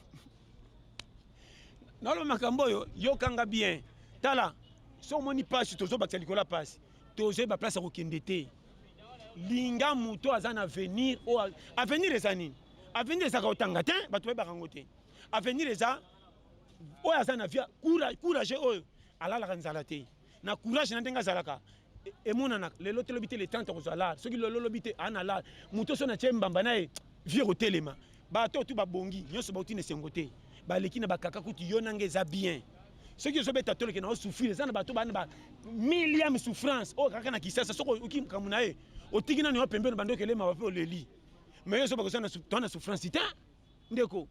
naloba makambo oyo yokanga bien tala so omoni mpasi tozobakisa likolo ya mpasi tozwi baplace ya kokende te linga moto aza na avenir oyo avenir eza nini avenir ezaka kotanga te bato bayebaka yango te avenir eza oyo aza na vie courage oyo alalaka nzala te na courage na ndenge azalaka emonana lelo te lobi te le 30 akozwa lar soki lelo lobi te ana lar moto oso na tie mbamba na ye vie kotelema bato otu babongi nyonso bauti na esengo te baleki na bakaka kutu yo nanga eza bien soki ozobeta toleke na osouffrir eza na bato bana ba milliam souffrance oyo kaka na kisasa soki oki makambo na ye otiki nani wa pembeni bandoki elema bape oleli mais yo ozoba kozana souffrance te Ndeko,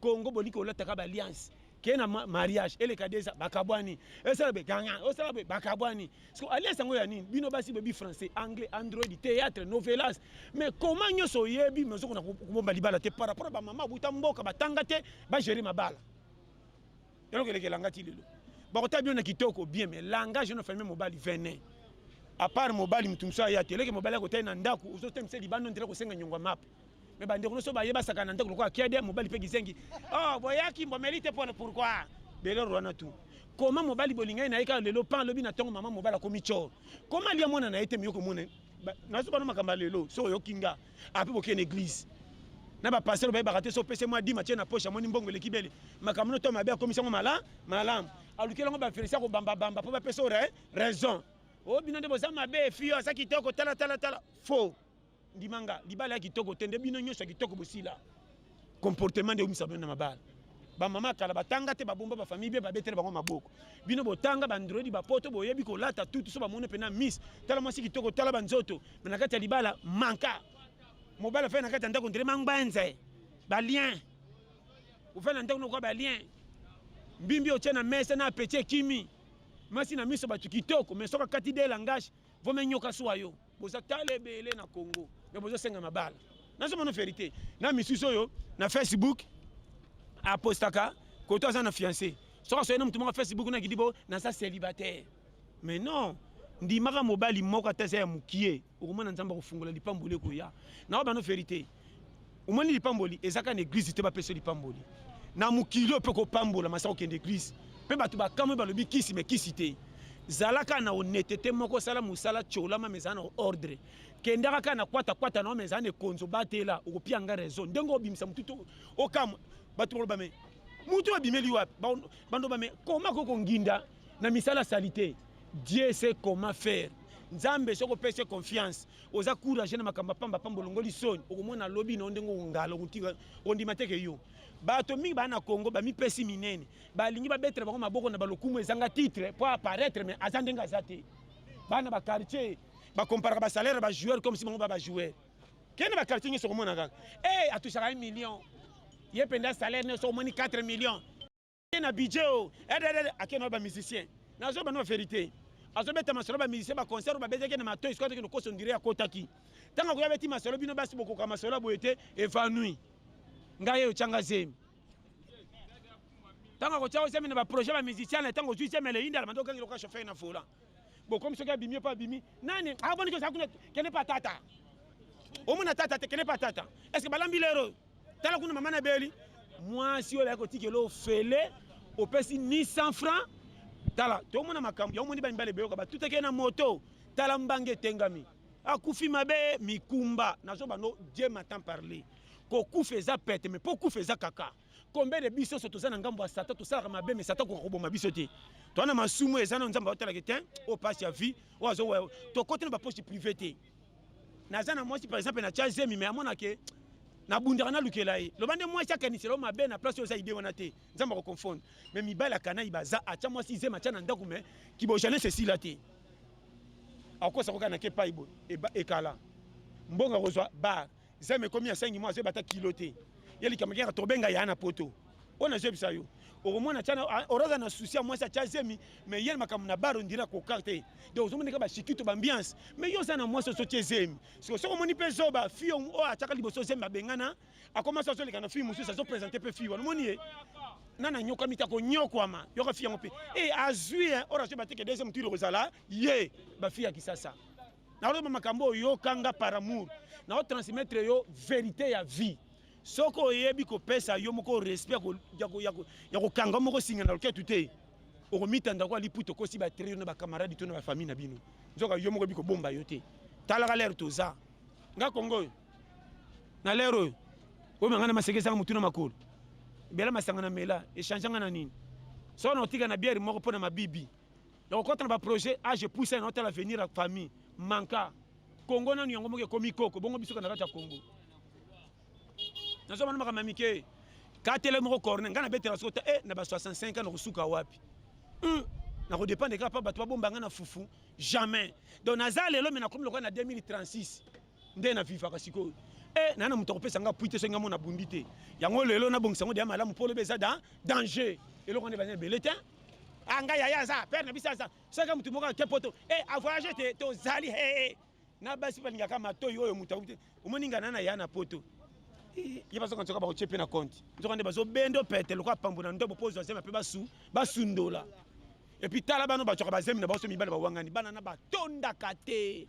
Congo bolingi kolataka ba alliance ke na mariage eleka deza bakabwani esala be ganga osala be bakabwani siko alliance yango ya nini bino basi boyebi français anglais android théâtre novelas mais comment nyonso oyebi mais ozokona kobomba libala te par rapport bamama abuta mboka batanga te bagere mabala eloko elekelanga ti lelo bakotala bino na kitoko bien mais langage no famille mobali venin apart mobali moto mosusu aya te eleke mobali akotali na ndako ozotemisa libanda ndela kosenga nyongo ya mape mais bandeko nyonso baye basaka na ndako lokola kiede mobali mpe kizengi oh boyaki mbomeli te pona pourkoi belor wana tu koma mobali bolingani na ye kaka lelo pan alobi na ntongo mama mobali akomi cor koma lia mwana na ye te miyoko mone nazo bana makambo ya lelo soki oyoki nga ape bokende eglise na bapastere bayebaka te so opesi mwa dima tie na poshe amoni mbongo eleki bele makambo no to mabe akomisi yango mala malamu alukeli yango baferisi akobambabamba mpo bapesa ore raison o oh, bino nde boza mabe fio aza kitoko talatala tala faux Ndima nga libala ya kitoko te nde bino nyonso ya kitoko bosila comportement nde eumisa bino na mabala bamama kala batanga te babomba bafamille bie babetele bango maboko bino botanga bandredi bapoto boyebi kolata tutu so bamoni mpena miss tala mwasi kitoko tala banzoto me na kati ya libala manka mobali afai na kati ya ndako ndele mangbanze balien ofai na ndako nokoa balien mbimbi otie na mesa na apeti ekimi mwasi na miso bato kitoko me soki akati de langage Vome nyoka sua yo boza tala ebele na Congo mais bozo senga mabala nazo mona verite na misusu oyo na Facebook apostaka koto aza na fiancé soki asoye na motu moko Facebook na kidibo naza célibataire mais non ndimaka mobali moko ata eza ya mokie okomona nzambe akofungola lipamboli ekoya na oyo bano verite omoni lipamboli eza kaka na eglize te bapesa lipamboli na mokili oyo mpe kopambola masaka okende eglize mpe bato bakamwe balobi kisi me kisi te zala kaka na honetete moko osala mosala tiolama mezala na ordre kendaka kaka na kwatakwata na yo mezala na ekonzo batela okopia nga raison ndenge obimisa motu okamwa bato baloba me motu babimeli wapi bandoba me koma ko konginda na misala salite dieu se koma faire nzambe soki opesi confiance oza courage na makambo pamba pamba olongoli soni okomona lobi na ndenge ongala okotika ondima te ke yo bato mingi baa na congo bamipesi minene balingi babetela bango maboko na balokumu ezanga titre mpo apparaître mais aza ndenge aza te bana baquartier bacomparaka basalaire ya bajoueur comme si bango ba bajoueur kende baquartier nyonso okomona kaka e eh, atusaka ye million ye mpenza salaire nyonso omoni 4 million na budget o oh. eh, eh, eh, akenda ba musicien nazoyeba no verité azobeta masolo ba musicien ba concert babetaki na matoi sikoyo tokende koso ndire akotaki ntango akoya beti masolo bino basi bokoka masolo ya boye te evanui ngai ye otyanga zemi ntango akotya ozemi na baprojet ba musicien na ntango ozwi zemi eleyinda alamanda okangela oka chauffeur na volant bokomi soki abimi mpo abimi nani aboniki ah, oza kuna kende pa tata omona tata te kende pa tata estce balambi lero tala kuna mama na beli mwasi oyo akotikela ofele opesi 100 francs tala tomona makambo yango moni bamibale beyoka batutaki ye na moto tala mbanga etengami akufi mabe mikumba nazo bando dieu matan parle kokufa eza pete me mpo kufa eza kaka combien de biso so toza na ngambo ya satan tosalaka mabe me satan koka koboma biso te toza na masumu eza na nzambe aotalaki te oyo mpasi ya vie oyo azo tokoti na bapoche privé te naza na mwasi par exemple na tia zemi me amona ke nabundaka nalukela ye loba nde mwasi akanisela yo mabe na place oyo oza ide wana te nzambe akoconfondre me mibali akanai baza atya mwasi zemi atya na ndako me kibojane sesila te akosa koka na kepai boye ekala mbongo akozwa bar zemi ekomi ya sengi mwa azeba ata kilo te ye likambo kaka tobenga ya na poto oyo nazebisa yo okomona tiana ah, oraza na susi ya mwasi atya zemi mais ye makambo na baro ndira koka te donc ozomoneka bashikito bambiance mais yo oza na mwasi osotye zemi siko soki omoni mpe zoba fille oyo atyaka liboso zemi babengana akoma so azoleka na fille mosusu azopresente mpe fille wana omoni ye nani anyokami te akonyokwama yoka fille yango mpe e azwi orazo bateke deuxième tour ekozala ye bafille ya kisasa naoloba makambo oyo yoka nga par amour naotransmettre yo verité ya vie soki oyebi kopesa yo moko respect ya kokanga moko singa na loketu te okomitanda kwa liputa okosi batrio na bacamarade to na bafamille na bino nzoka yo moko bikobomba yo te talaka lere toza nga kongo oyo na lere oyo oyo manga na masekesanga motu na makolo bela masanga na mela echange nga na nini soko na otika na biere moko mpo na mabibi ya kokota na baprojet age epuisa na otala avenir ya famille manka kongo nanu yango moko ekomi koko bongo bisoka na kati ya kongo nazomana makambo ya mike katele moko corne ngai nabetela soko te e na ba 65 ans nakosuka wapi hmm, nakodepende kaka mpa bato babomba ngai na fufu jamais donc naza lelo me nakomi lokola na 2036 nde na vivaka sikoyo e naye na moto akopesa ngai apui te soki ngai mona bundi te yango lelo nabongisa yango deya malamu mpo lobi eza da danger eloko nde bana ebele te Ah, ngai yaya aza père na biso aza soki motu moko ake poto e eh, avoyage te tozali he eh, eh. na basi balingaka matoi oyo moto akuti omoni ngai na na ya na poto ye bazoka nzoka bakotie mpe na konte nzoka nde bazobendo pete lokola pambo na ndobo mpo ozwa zemi mpe basu basundola epuis tala bano bacwaka bazemi na baso mibale bawangani bana na batondaka te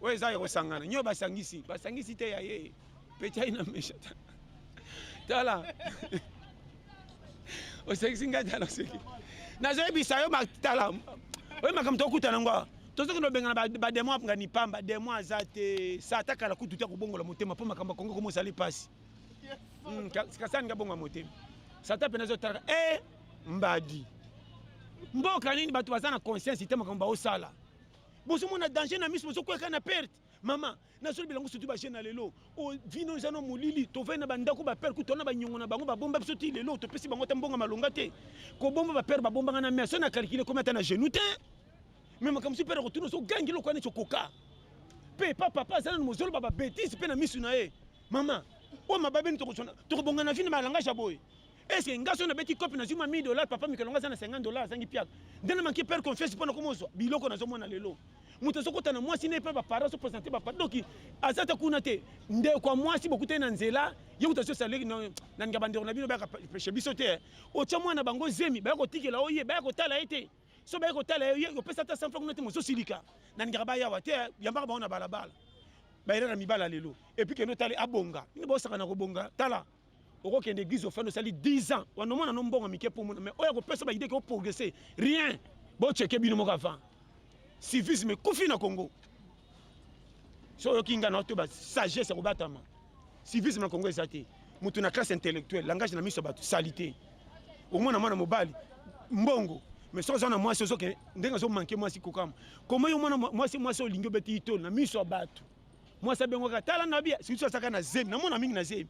oyo eza ya kosangana nyo basangisi basangisi te ya ye peti aina mesha tala osekisi ngai tala oseki nazoyebisa yo tala oyo makambo tokuta na ngo tozokende obengana bademo apnga nipamba demo aza te sa ata kala kutu te akobongola motema mpo makambo akongo koma ozali mpasi hmm, kasani nga bonga motema sata mpenza ezotala e eh, mbadi mboka nini bato baza na conscience te makambo baosala bozo mona danger na miso bozo kweka na perte mama nazoli bilango surtout ba jeune lelo o vino eza no molili tovai na bandako ba père kutu na banyongo na bango babomba biso ti lelo topesi bango ata mbongo malonga te kobomba ba père babombanga na mer so na calcule komi ata na genou te me makambo si père kotuna ozogangi lokola neti okoka mpe epa papa aza nano mozoloba babetise mpe na miso na ye mama oyo mababeni tokobonga na vino malangage ya boye Est-ce que nga so na beti cop na zuma 1000 dollars papa mikelonga aza na 50 dollars azangi piaka. Nde na manquer père confiance pona ko mozwa biloko na zo mona lelo. Moto azo kota na mwasi ne pe ba parents so présenter ba parents. Donc aza ta kuna te. Nde kwa mwasi bokuta na nzela ye kuta so saleki na na ngaba ndeko na bino ba ka peche biso te. Eh. Ocha mwana bango zemi ba ko tikela oye ba ko tala ete. So ba ko tala ye ko pesa ta 100 francs kuna te mozo silika. Na ngaba ba yawa te eh. yamba ba ona balabala. Ba era na mibala lelo. Et puis que no tali abonga. Ni bosaka na ko bonga. Tala. okokende église ofandi osali 10 ans wana omona no mbongo mike mpo omona mais oyo akopesa baide ke oprogresse rien boceke bino moko avant civisme ekufi na congo so oyoki ngai na to basagesse ya kobatama civisme na congo eza te moto na classe intellectuelle langage na miso ya bato salite omona mwana mobali mbongo mais soki oza na mwasi ozoke ndenge azomanke mwasi kokama koma yo mwana mwasi mwasi olingi obeti itolo na miso ya bato mwasi abengwaka tala ngabi sikusu asaka na zemi namona mingi na zemi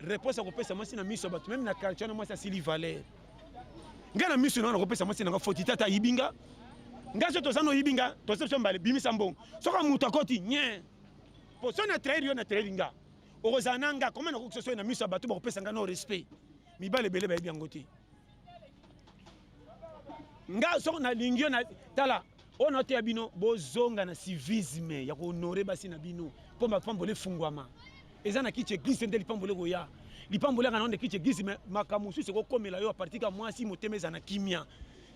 réponse akopesa mwasi na miso ya bato meme na quartier wana mwasi asili valeur ngai na miso nanga nakopesa mwasi nanga foti tata ayibi nga ngai so toza noyibi nga toza biso mbale bimisa mbongo soki moto akoti nye po so na trahir yo na trahir nga okozala na nga koma nakoki sosoye na miso ya bato bakopesa nga no respect mibale ebele bayebi yango te nga soko nalingi yo na tala oyo naoteya bino bozonga na civisme ya kohonore basi na bino mpo mapamboli efungwama eza na kiti eglise nde lipamboli ekoya lipamboli yaka nao nde kiti eglise me makambo mosusu ekokomela yo apartir ka mwasi motema eza na kimia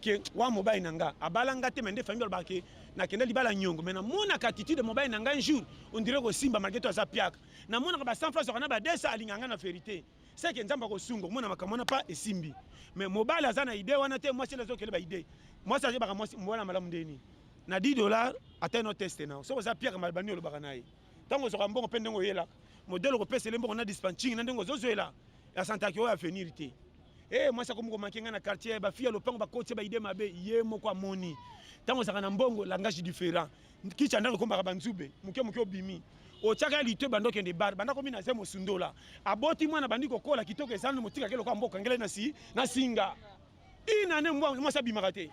ke wa mobali na nga abala nga te me nde famille alobaka ke nakenda libala nyongo me namonaka attitude mobali na nga un jour ondire kosimba malgre to aza piaka namonaka ba 100 fois azwaka na ba 200 alingaka nga na verité seke nzambe akosunga omona makambo wana pa esimbi mais mobali aza na idee wana te mwasi azokele ba idee mwasi azebaka mwasi mobali malamu ndeni na 10 dollar ata no teste nao soki oza pierre malbani olobaka na ye ntango ozwaka mbongo mpe ndenge oyelaka modele okopesa ele mbongo na dispatching na ndenge ozozwela ya santaki oyo avenir te e mwasi akomi komake ngai na quartier bafi ya lopango bakoti baide mabe ye moko amoni ntango ozalaka na mbongo langage différent kicha ndako ekomaka banzube moke moke obimi otyaka ya lito ebanda okende bar banda komi na ze mosundola aboti mwana bandi kokola kitoko ezalani motikaka lokola mboka ngele na singa ina ne mbwa mwasi abimaka te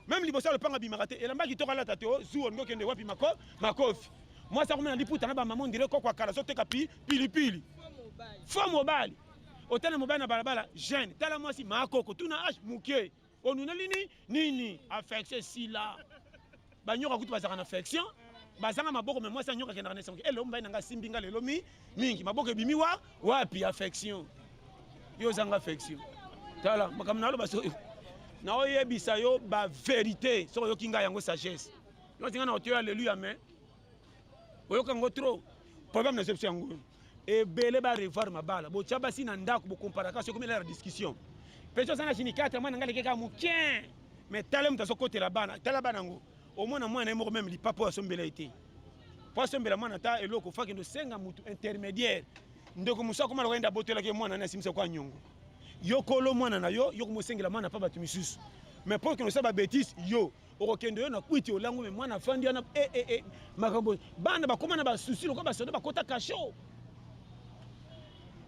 meme liboso ya lopanga abimaka te elamba kitoko alata te ozuwa olingi okende wapi mako makofi mwasi akomena liputa na bamama ondire kokwa kala azoteka pi pilipili fo mobali otala mobali na balabala jeune tala mwasi makoko tuna age moke onuneli ni nini affection esila banyoka kutu bazalaka na affection bazanga maboko me mwasi anyoka kendaka na esango elo mbai na ngai asimbi ngai lelo mi mingi maboko ebimi wa wapi affection yo ozanga affection tala makambo naloba soki naoyebisa yo baverité soki oyoki ngai yango sagesse yo otinga na oteyo aleluya mais oyoka yango trop problème na sepsi yango ebele ba revoir mabala botya basi na ndako bokomparaka soki omela na discussion mpe soza na sinikatre mwana ngai lekeka moke me tala moto azokotela bana tala bana yango omona mwana ye moko meme lipapa oyo asombela ye te mpo asombela mwana ata eloko fakende osenga motu intermédiaire ndeko mosu akoma lokola yende abotolaki ye mwana na asimisa kwa nyongo yo kolo mwana na yo yo komosengela mwana mpa bato misusu mais mpo okende osala babetise yo okokende yo na kwiti olangu me mwana afandi wana e, e, e, makambo bana bakoma na basusi lokola basoda bakota kasho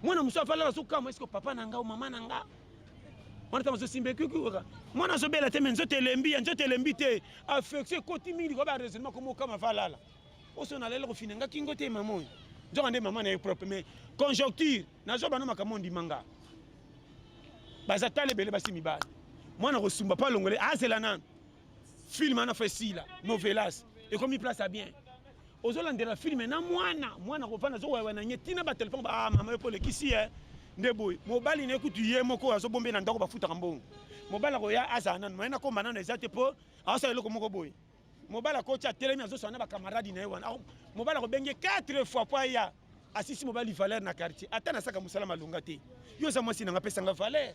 mwana mosusu afalaka azokama eske papa na nga o mama na nga wana ntango azosimba ekikuka mwana azobela te me nzoto elembi ya nzoto elembi te affection ekoti mingi likoba baraisonnement koma okama valala oso nalela kofina nga kingo te mama oyo nzoka nde mama na ye propre mais conjoncture nazwa bana makambo ondima nga baza tala ebele basi mibale mwana kosumba mpo alongole azela nanu film ana fo esila novelas ekomi place ya bien ozolandela filme na mwana mwana kovanda azowawa na nye ntina batelefone ba ah, mama yo mpo olekisi ye eh. nde boye mobali na ye kutu ye moko oyo azobombe na ndako bafutaka mbongo mobali akoya azala nanu maye nakomba nanu eza te mpo aosala eloko moko boye mobali akoti atelemi azosana na bakamaradi na ye wana mobali akobengi 4 fois mpo aya asisi mobali valeur na quartier ata nasaka mosala malonga te yo oza mwasi nanga apesanga valeur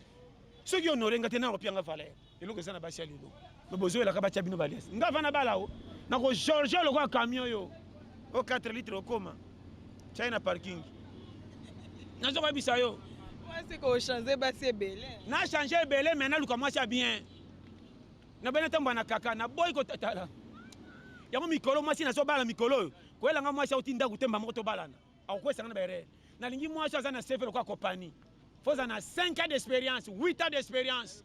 soki honore nga te nanga opianga valeur eloko eza na basi ya lelo me bozoyelaka batya bino balias nga vana bala o nako george lokola camion yo o 4 litre okoma tyai na parking nazo koyebisa yo na change ebele me naluka mwasi ya bien na bana tamba na kaka na boy ko tatala yango mikolo mwasi nazo bala mikolo oyo koyela nga mwasi auti ndako te mbamoko tobalana akokwesanga na baerere nalingi mwasi aza na sefe lokola kopani foza na 5 ans d'expérience 8 ans d'expérience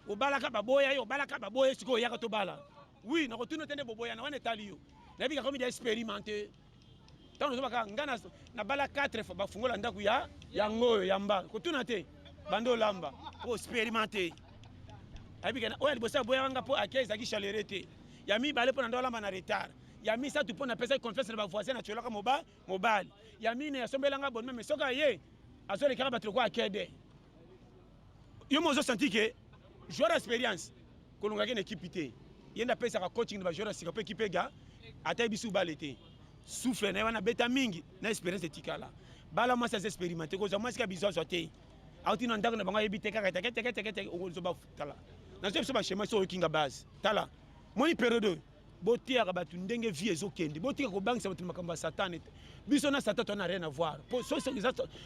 obalaka baboya yo obalaka baboya sikoyo oyaka tobala wi nakotuna te nde boboyana wana etali yo nayebi kakomi de expérimenté ntango tozoba kaka ngai na bala 4 fois bafungola ndako ya yango oyo ya mba kotuna te banda olamba mpo osperimente ayebika oyo ya liboso aboyaka nga mpo ake ezalaki chalere te ya mibale mpo na nda olamba na retard ya misato mpo napesaki confiance na bavoisin na tiolaka moba mobali ya mine asombelanga bonime me soki aye azolekaka bato lokola akede Yo mozo sentir que joueur expérience kolonga ke na équipe te. Yenda pesa ka coaching ba joueur sika pe équipe ga ata ebisu bale te. Souffle na wana beta mingi na expérience etikala. Bala mwasi aza expérimenté ko za mwasi ka bizo zo te. Auti na ndako na bango yebi te kaka teke teke teke teke okozo ba tala. Na zo biso ba schéma so okinga base. Tala. Moni période boteyaka bato ndenge vie ezokende botika kobangisa bato na makambo ya satan ete biso na satan toza na rien avoir po soki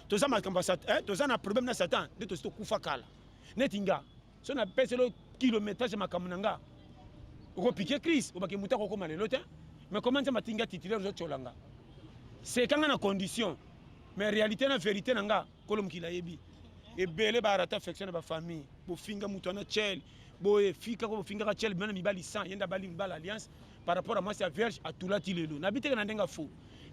toza makambo ya satan eh, toza na problème na satan nde tosi tokufa kala neti nga so napeselo kilométrage ya makambo na nga okopike crise obake moto akokoma lelo te mais koma nzambe atinga titulaire ozotyola nga sekanga na condition mais réalité na vérité na nga kolo mokili ayebi ebele ba rata affection na ba famille bofinga mutu ana chel boye fika ko bofingaka chel bana mibali 100 yenda bali mibali alliance par rapport à mwasi ya vierge atulati lelo na biteke na ndenge fo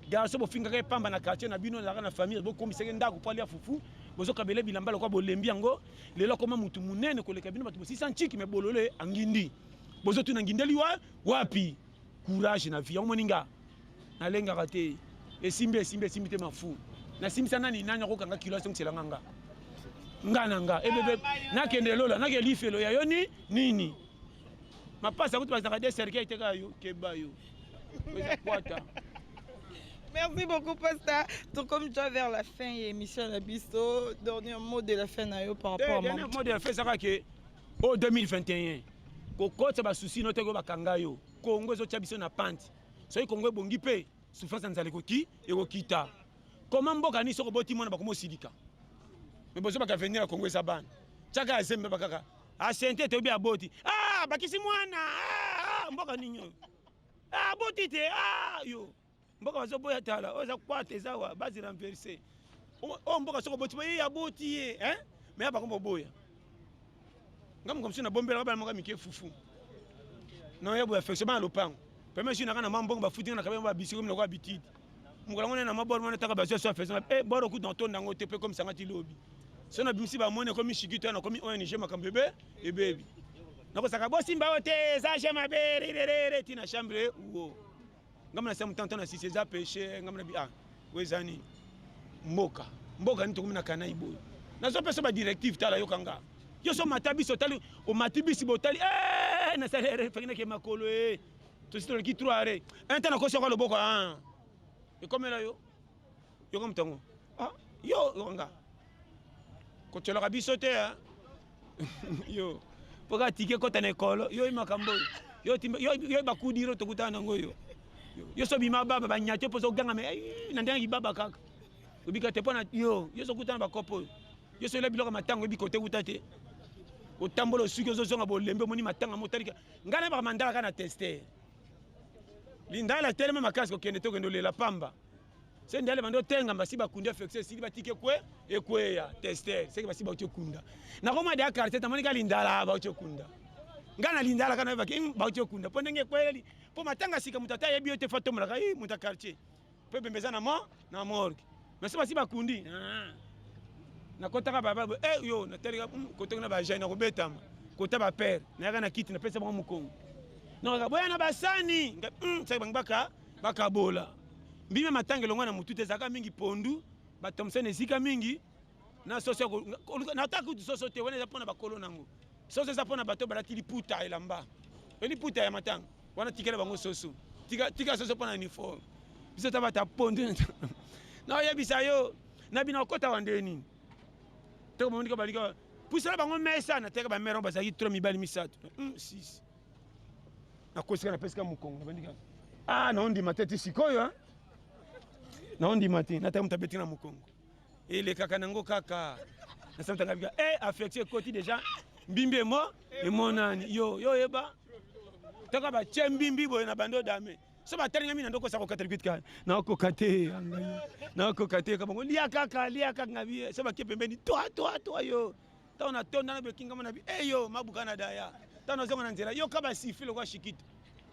garçon bofingaka ye pamba na quartier na bino ezalaka na famille bokomisaka ye ndako mpo alia fufu bozokabela ye bilamba lokola bolembi yango lelo akoma mutu monene koleka bino bato bosisa nciki me bolole angindi bozotuna ngindeli wa wapi courage na vie yango moni nga nalengaka te esimbi esimbi esimbi te mafu nasimbisa nani nani akokanga kilo azongisela nga nga nga na nga ebebe nakende lola nake lifelo ya yo ni nini mapasa kutu bazalaka de cercueil te kaka yo keba yo eza kwata Merci beaucoup, Pasta. Donc, comme déjà vers la fin, il y a émission à la bisto. Dernier mot de la fin, Nayo, par rapport à moi. Dernier mot de la fin, c'est que o 2021 kokotisa basusi no te ko bakanga yo kongo ezotya biso na pante soki kongo ebongi mpe souffrance ya nzala ekoki ekokita koma mboka nini soki oboti mwana bakoma osilika me bozobaka avenir ya kongo eza bana tyaka ya zembe bakaka asente toyebi aboti ah, bakisi mwana ah, ah, mboka nini oyo aboti te yo mboka bazoboya tala oyo eza kwata eza wa base renverse oyo mboka soko boti baye aboti ye eh? me ya bakoma oboya nga moka mosusu nabombelaka bana moka mike fufu non ya boya affection bana lopango peme jui naka na mwa mbongo bafuti nga na kabia babisikomi nakoa bitidi mokolo yango nde na mwa bor mwana taka bazwa so affection e bor okuti na tonda yango te mpe komisanga ti lobi so na bimisi bamoni ekomi shikito ya nakomi ong makambo ebe ebebi nakosaka bosimba oyo te eza je mabere irerere ti na chambre uo ngambo na siamu tantana sisi eza peche ngambo na bi ah oyo eza nini mboka mboka nini tokomi na kanai boye nazopesa badirective tala yoka nga yo so omata biso otali omati bisi botali eh, nasali ere eh, fengineke makolo e eh. tosi toleki trois are enta nakosi yoko loboko ah. ekomela yo yoko motango ah, yo yoka nga kotyolaka biso te ya yo mpo kaka tike ekota na ekolo yo oyi makambo oyo yo bakudiro tokutana nango yo yo so bima baba banyati mpo ozoganga me na ndenge ibaba kaka obika te mpo na yo yo sokutana bakopo oyo yo soyela biloko ya matanga oyebi kote kuta te otambola osuki ozozonga bolembe omoni matanga motalika ngai nayebaka mandala kaka na teste lindala telema makasi kokende tokende olela pamba se ndele bando tenga mbasi bakunda flexe esili batike kwe ekweya tester seke basi bauti okunda nakoma de quartier tamoni ka lindala bauti okunda ngai na lindala kana yebaki hmm, bauti okunda mpo ndenge ekweyeli mpo matanga sika moto ata ayebi yo te fa tombolaka i moto ya quartier mpo ebembe eza na mo na morgue mais se basi bakundi ah. nakotaka baba e eh, yo natalika hmm, kotoki na bajai nakobetama kota bapere nayaka na kiti napesa bango mokongo nakaka boya na basani hmm, saki bango baka Bakabola mbimi ya matanga elongwa na motuta ezalaka mingi pondu ba Thomson esika mingi na soso ya koluka na ta kutu soso te wana eza pona bakolo nango soso eza pona bato balati liputa elamba pe liputa ya matanga wana tikela bango soso tika, tika soso pona uniforme biso ta bata pondu na oyebisa yo na bino okota wa ndenge nini toko monika balika pusala bango mesa na teka ba mère bazalaki tro mibali misato mm, sisi nakosika napesika mokongo nabandika a ah, naondima te ti sikoyo eh? naondima te nataka moto abeti na mokongo elekaka nango kaka nasamutanga bika e eh, affection ekoti deja mbimbi emo emonani yo yo oyeba toka batye mbimbi boye na bando dame so batalingami na ndoko osa kokata likiti kaka nakoka te nakoka te kabango lia kaka lia kaka ngabi so bake pembeni toi toi toi yo ntango natonda na bekingama na bi eyo eh, mabuka na daya ntango nazonga na nzela yoka basifi lokola shikito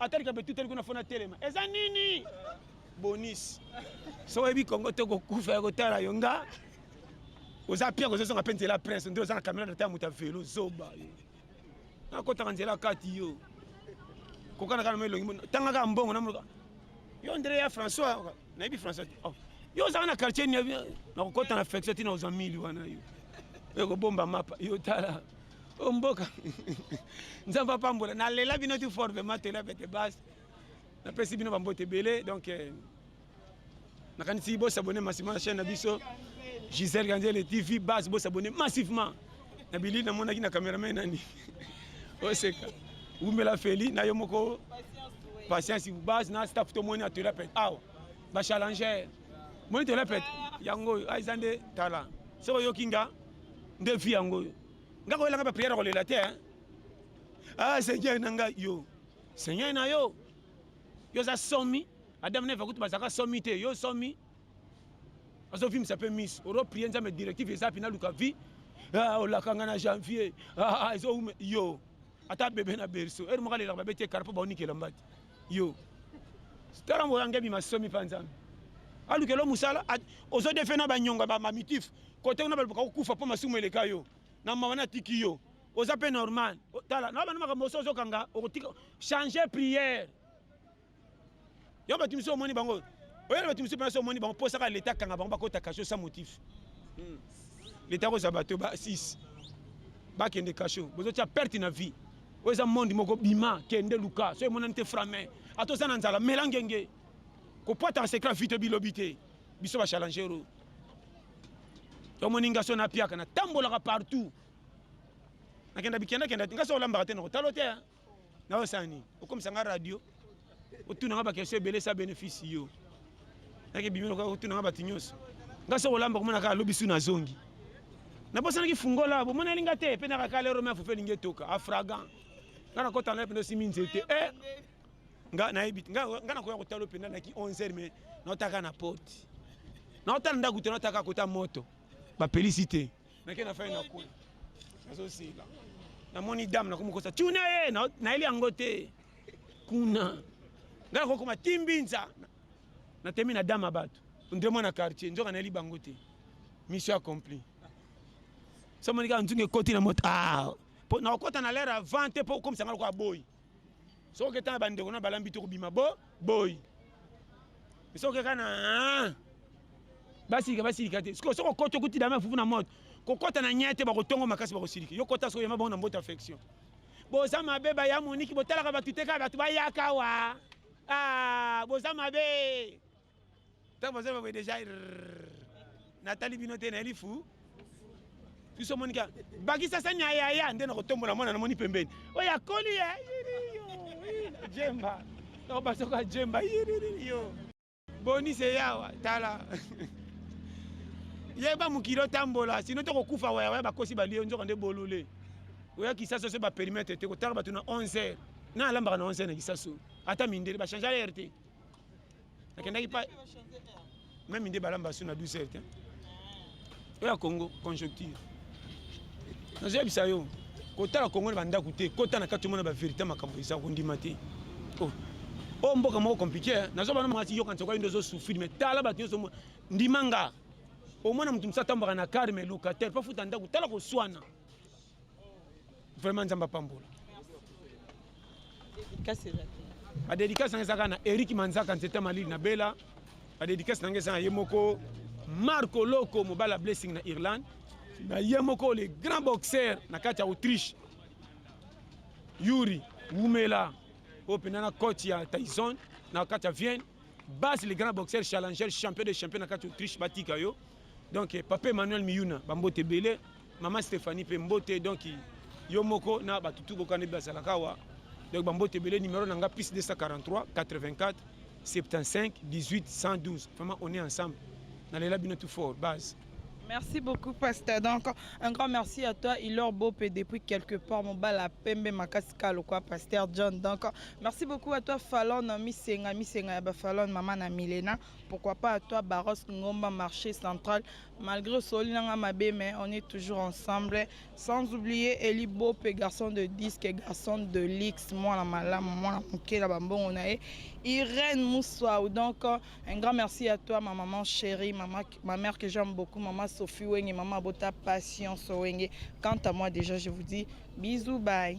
atalika betuteli kuna fona telema eza nini bonisi so oyebi kongo te kokufa ya kotala yo nga oza pia kozozonga mpe nzela prince nde oza na camerade ata ya moto ya velo zoba yo nakotaka nzela kati yo kokanaka na mo elongi tangaka mbongo na monoka yo ndele ya françois nayebi français te oh. yo ozalaka na quartier nini nakokɔta na flexe ntina ozwa mili wana yo ekobomba mapa yo tala o mboka nzambe apambola nalela bino ti fort vraimen tolela bete base napesi bino bambote ebele donc eh, nakanisi bosabone massivement na chaîne na biso gisele kanzele tv base bosabone massivement na bili namonaki na cameraman nani oseka wumela feli na yo moko patience base na staff tomoni atela pete awa bachallenger moni tela pete yango oyo ah, eza nde tala soki oyoki nga nde vi yango oyo nga koyelanga bapriere kolela te ah seigneur na ngai yo seigneur na yo yo oza somi adam neva kutu bazalaka somi te yo somi azo vimisa pe miso oro prier nzambe directive eza pina luka vie ah, olakanga na janvier ah, ah, ezo ume yo ata bebe na berceau ere moko alelaka babeti ekara mpo baonikela mbati yo tala moko yange ebima somi mpa nzambe alukela mosala ozo defe na banyonga bamamitif kote kuna balobaka kokufa mpo masumu eleka yo na mawa na tiki yo oza mpe normal tala na bana makambo oso ozokanga okotika change priere yo bato mosusu omoni bango oyo na bato mosusu mpenza so omoni bango mpo osaka leta akanga bango bakota kasho sa motif hmm. leta akozwa bato ba 6 bakende kasho bozotya perte na vie oyo eza monde moko bima kende luka soki emonani te frame ata oza na nzala mela ngenge kopwata na secret vite bilobi te biso bachalangero omoni nga so napiaka natambolaka partout nakenda bikendakenda nga so olambaka te nakotalo te na osala nini okomisa nga radio otuna nga bakestion ebele sa bénéfice yo nake bimi lokola otuna nga bato nyonso nga so kolamba komona kaka lobi su nazongi nabosanaki fungola bomoneli nga te mpe nakaka lero me afufe elingi etoka afragan nga nakota na mpenza osimi nzete e eh! nga nayebi te nga nakoya kotala mpenza naki 11 heure me naotaka na porte naotala ndako te naotaka kota moto bapelisi te nake na fai nakula nazosila namoni dame nakomokosa tuna ye nayeli yango te kuna ngai nakokoma timbinza natemi na dame ya bato nde mwana quartier nzoka nayeli bango te mission accompli somoniki nzungu ekoti na moto ah, mpo nakokota na lere avant te mpo okomisa ngai lokola boyi soki etanga bandeko na balambi te kobima bo boyi soki kaka na ah, basilika basilika te soki okoti okuti dama fufu na moto kokɔta na nyete bakotongo makasi bakosilika yo kota soki yema bango na mbota affection boza mabe baya moniki botalaka bato te kaka bato bayaka wa ah, boza mabe Tango bazali bakoye deja natali bino te nayeli fu biso omoni ka bakisa sani ya yaya nde nakotombola mwana namoni pembeni oyo akoli ye jemba nakobasoko ya jemba yo boni se yawa tala yeba mokili otambola sino tokokufa wayawaya bakosi balie nzoka nde bolole oya kisaso so baperimetre te kotala bato na 11 heure na alambaka na 11 heure na kisaso ata mindele bachange heure te nakendaki pa meme nde balamba su na 12 heures te oyo ya congo conjoncture nazoyebisa yo kotala congo na bandako te kota na kati omona baverité makambo eza kondima te oh. oyo oh, mboka moko compliqué eh. nazo bana mwasi yoka nsoka yende ozosufrire me tala bato nyonso ndima nga omona moto mosusu atambaka na kare me locataire mpo afuta ndako tala koswana vraiment nzambe apambola badedikasi nanga ezaka na erik manzaka nzete malili na bela badedikasi nanga eza na ye moko marco loko mobala blessing na irlande na ye moko le grand boxeur na kati ya autriche yuri wumela oyo mpenza na coach ya tyson na kati ya vienne base le grand boxeur challenger champion de champion na kati ya autriche batika yo Donc papa Emmanuel Miyuna ba mbote ebele, mama Stephanie pe mbote donc yo moko na ba tutu bokane bazalaka awa. Donc ba mbote ebele numéro na nga plus 243 84 75 18 112. Vraiment on est ensemble. Na lela bino tout fort base. Merci beaucoup, Pasteur. Donc, un grand merci à toi, Ilor Bope, depuis quelque part, mon bal à Pembe, Makaska, le quoi, Pasteur John. Donc, merci beaucoup à toi, Fallon, Miss Senga, Miss Senga, Fallon, Maman, Milena. Pourquoi pas à toi Baros Ngomba marché central malgré osoli nanga mabe mais on est toujours ensemble sans oublier Eli Bope garçon de disque garçon de luxe mwana malamu mwana moke na bambongo na ye Irène Mouswaou donc un grand merci à toi ma maman chérie maman, ma mère que j'aime beaucoup maman Sophie Wenge maman Abota Patience Wenge quant à moi déjà je vous dis bisous bye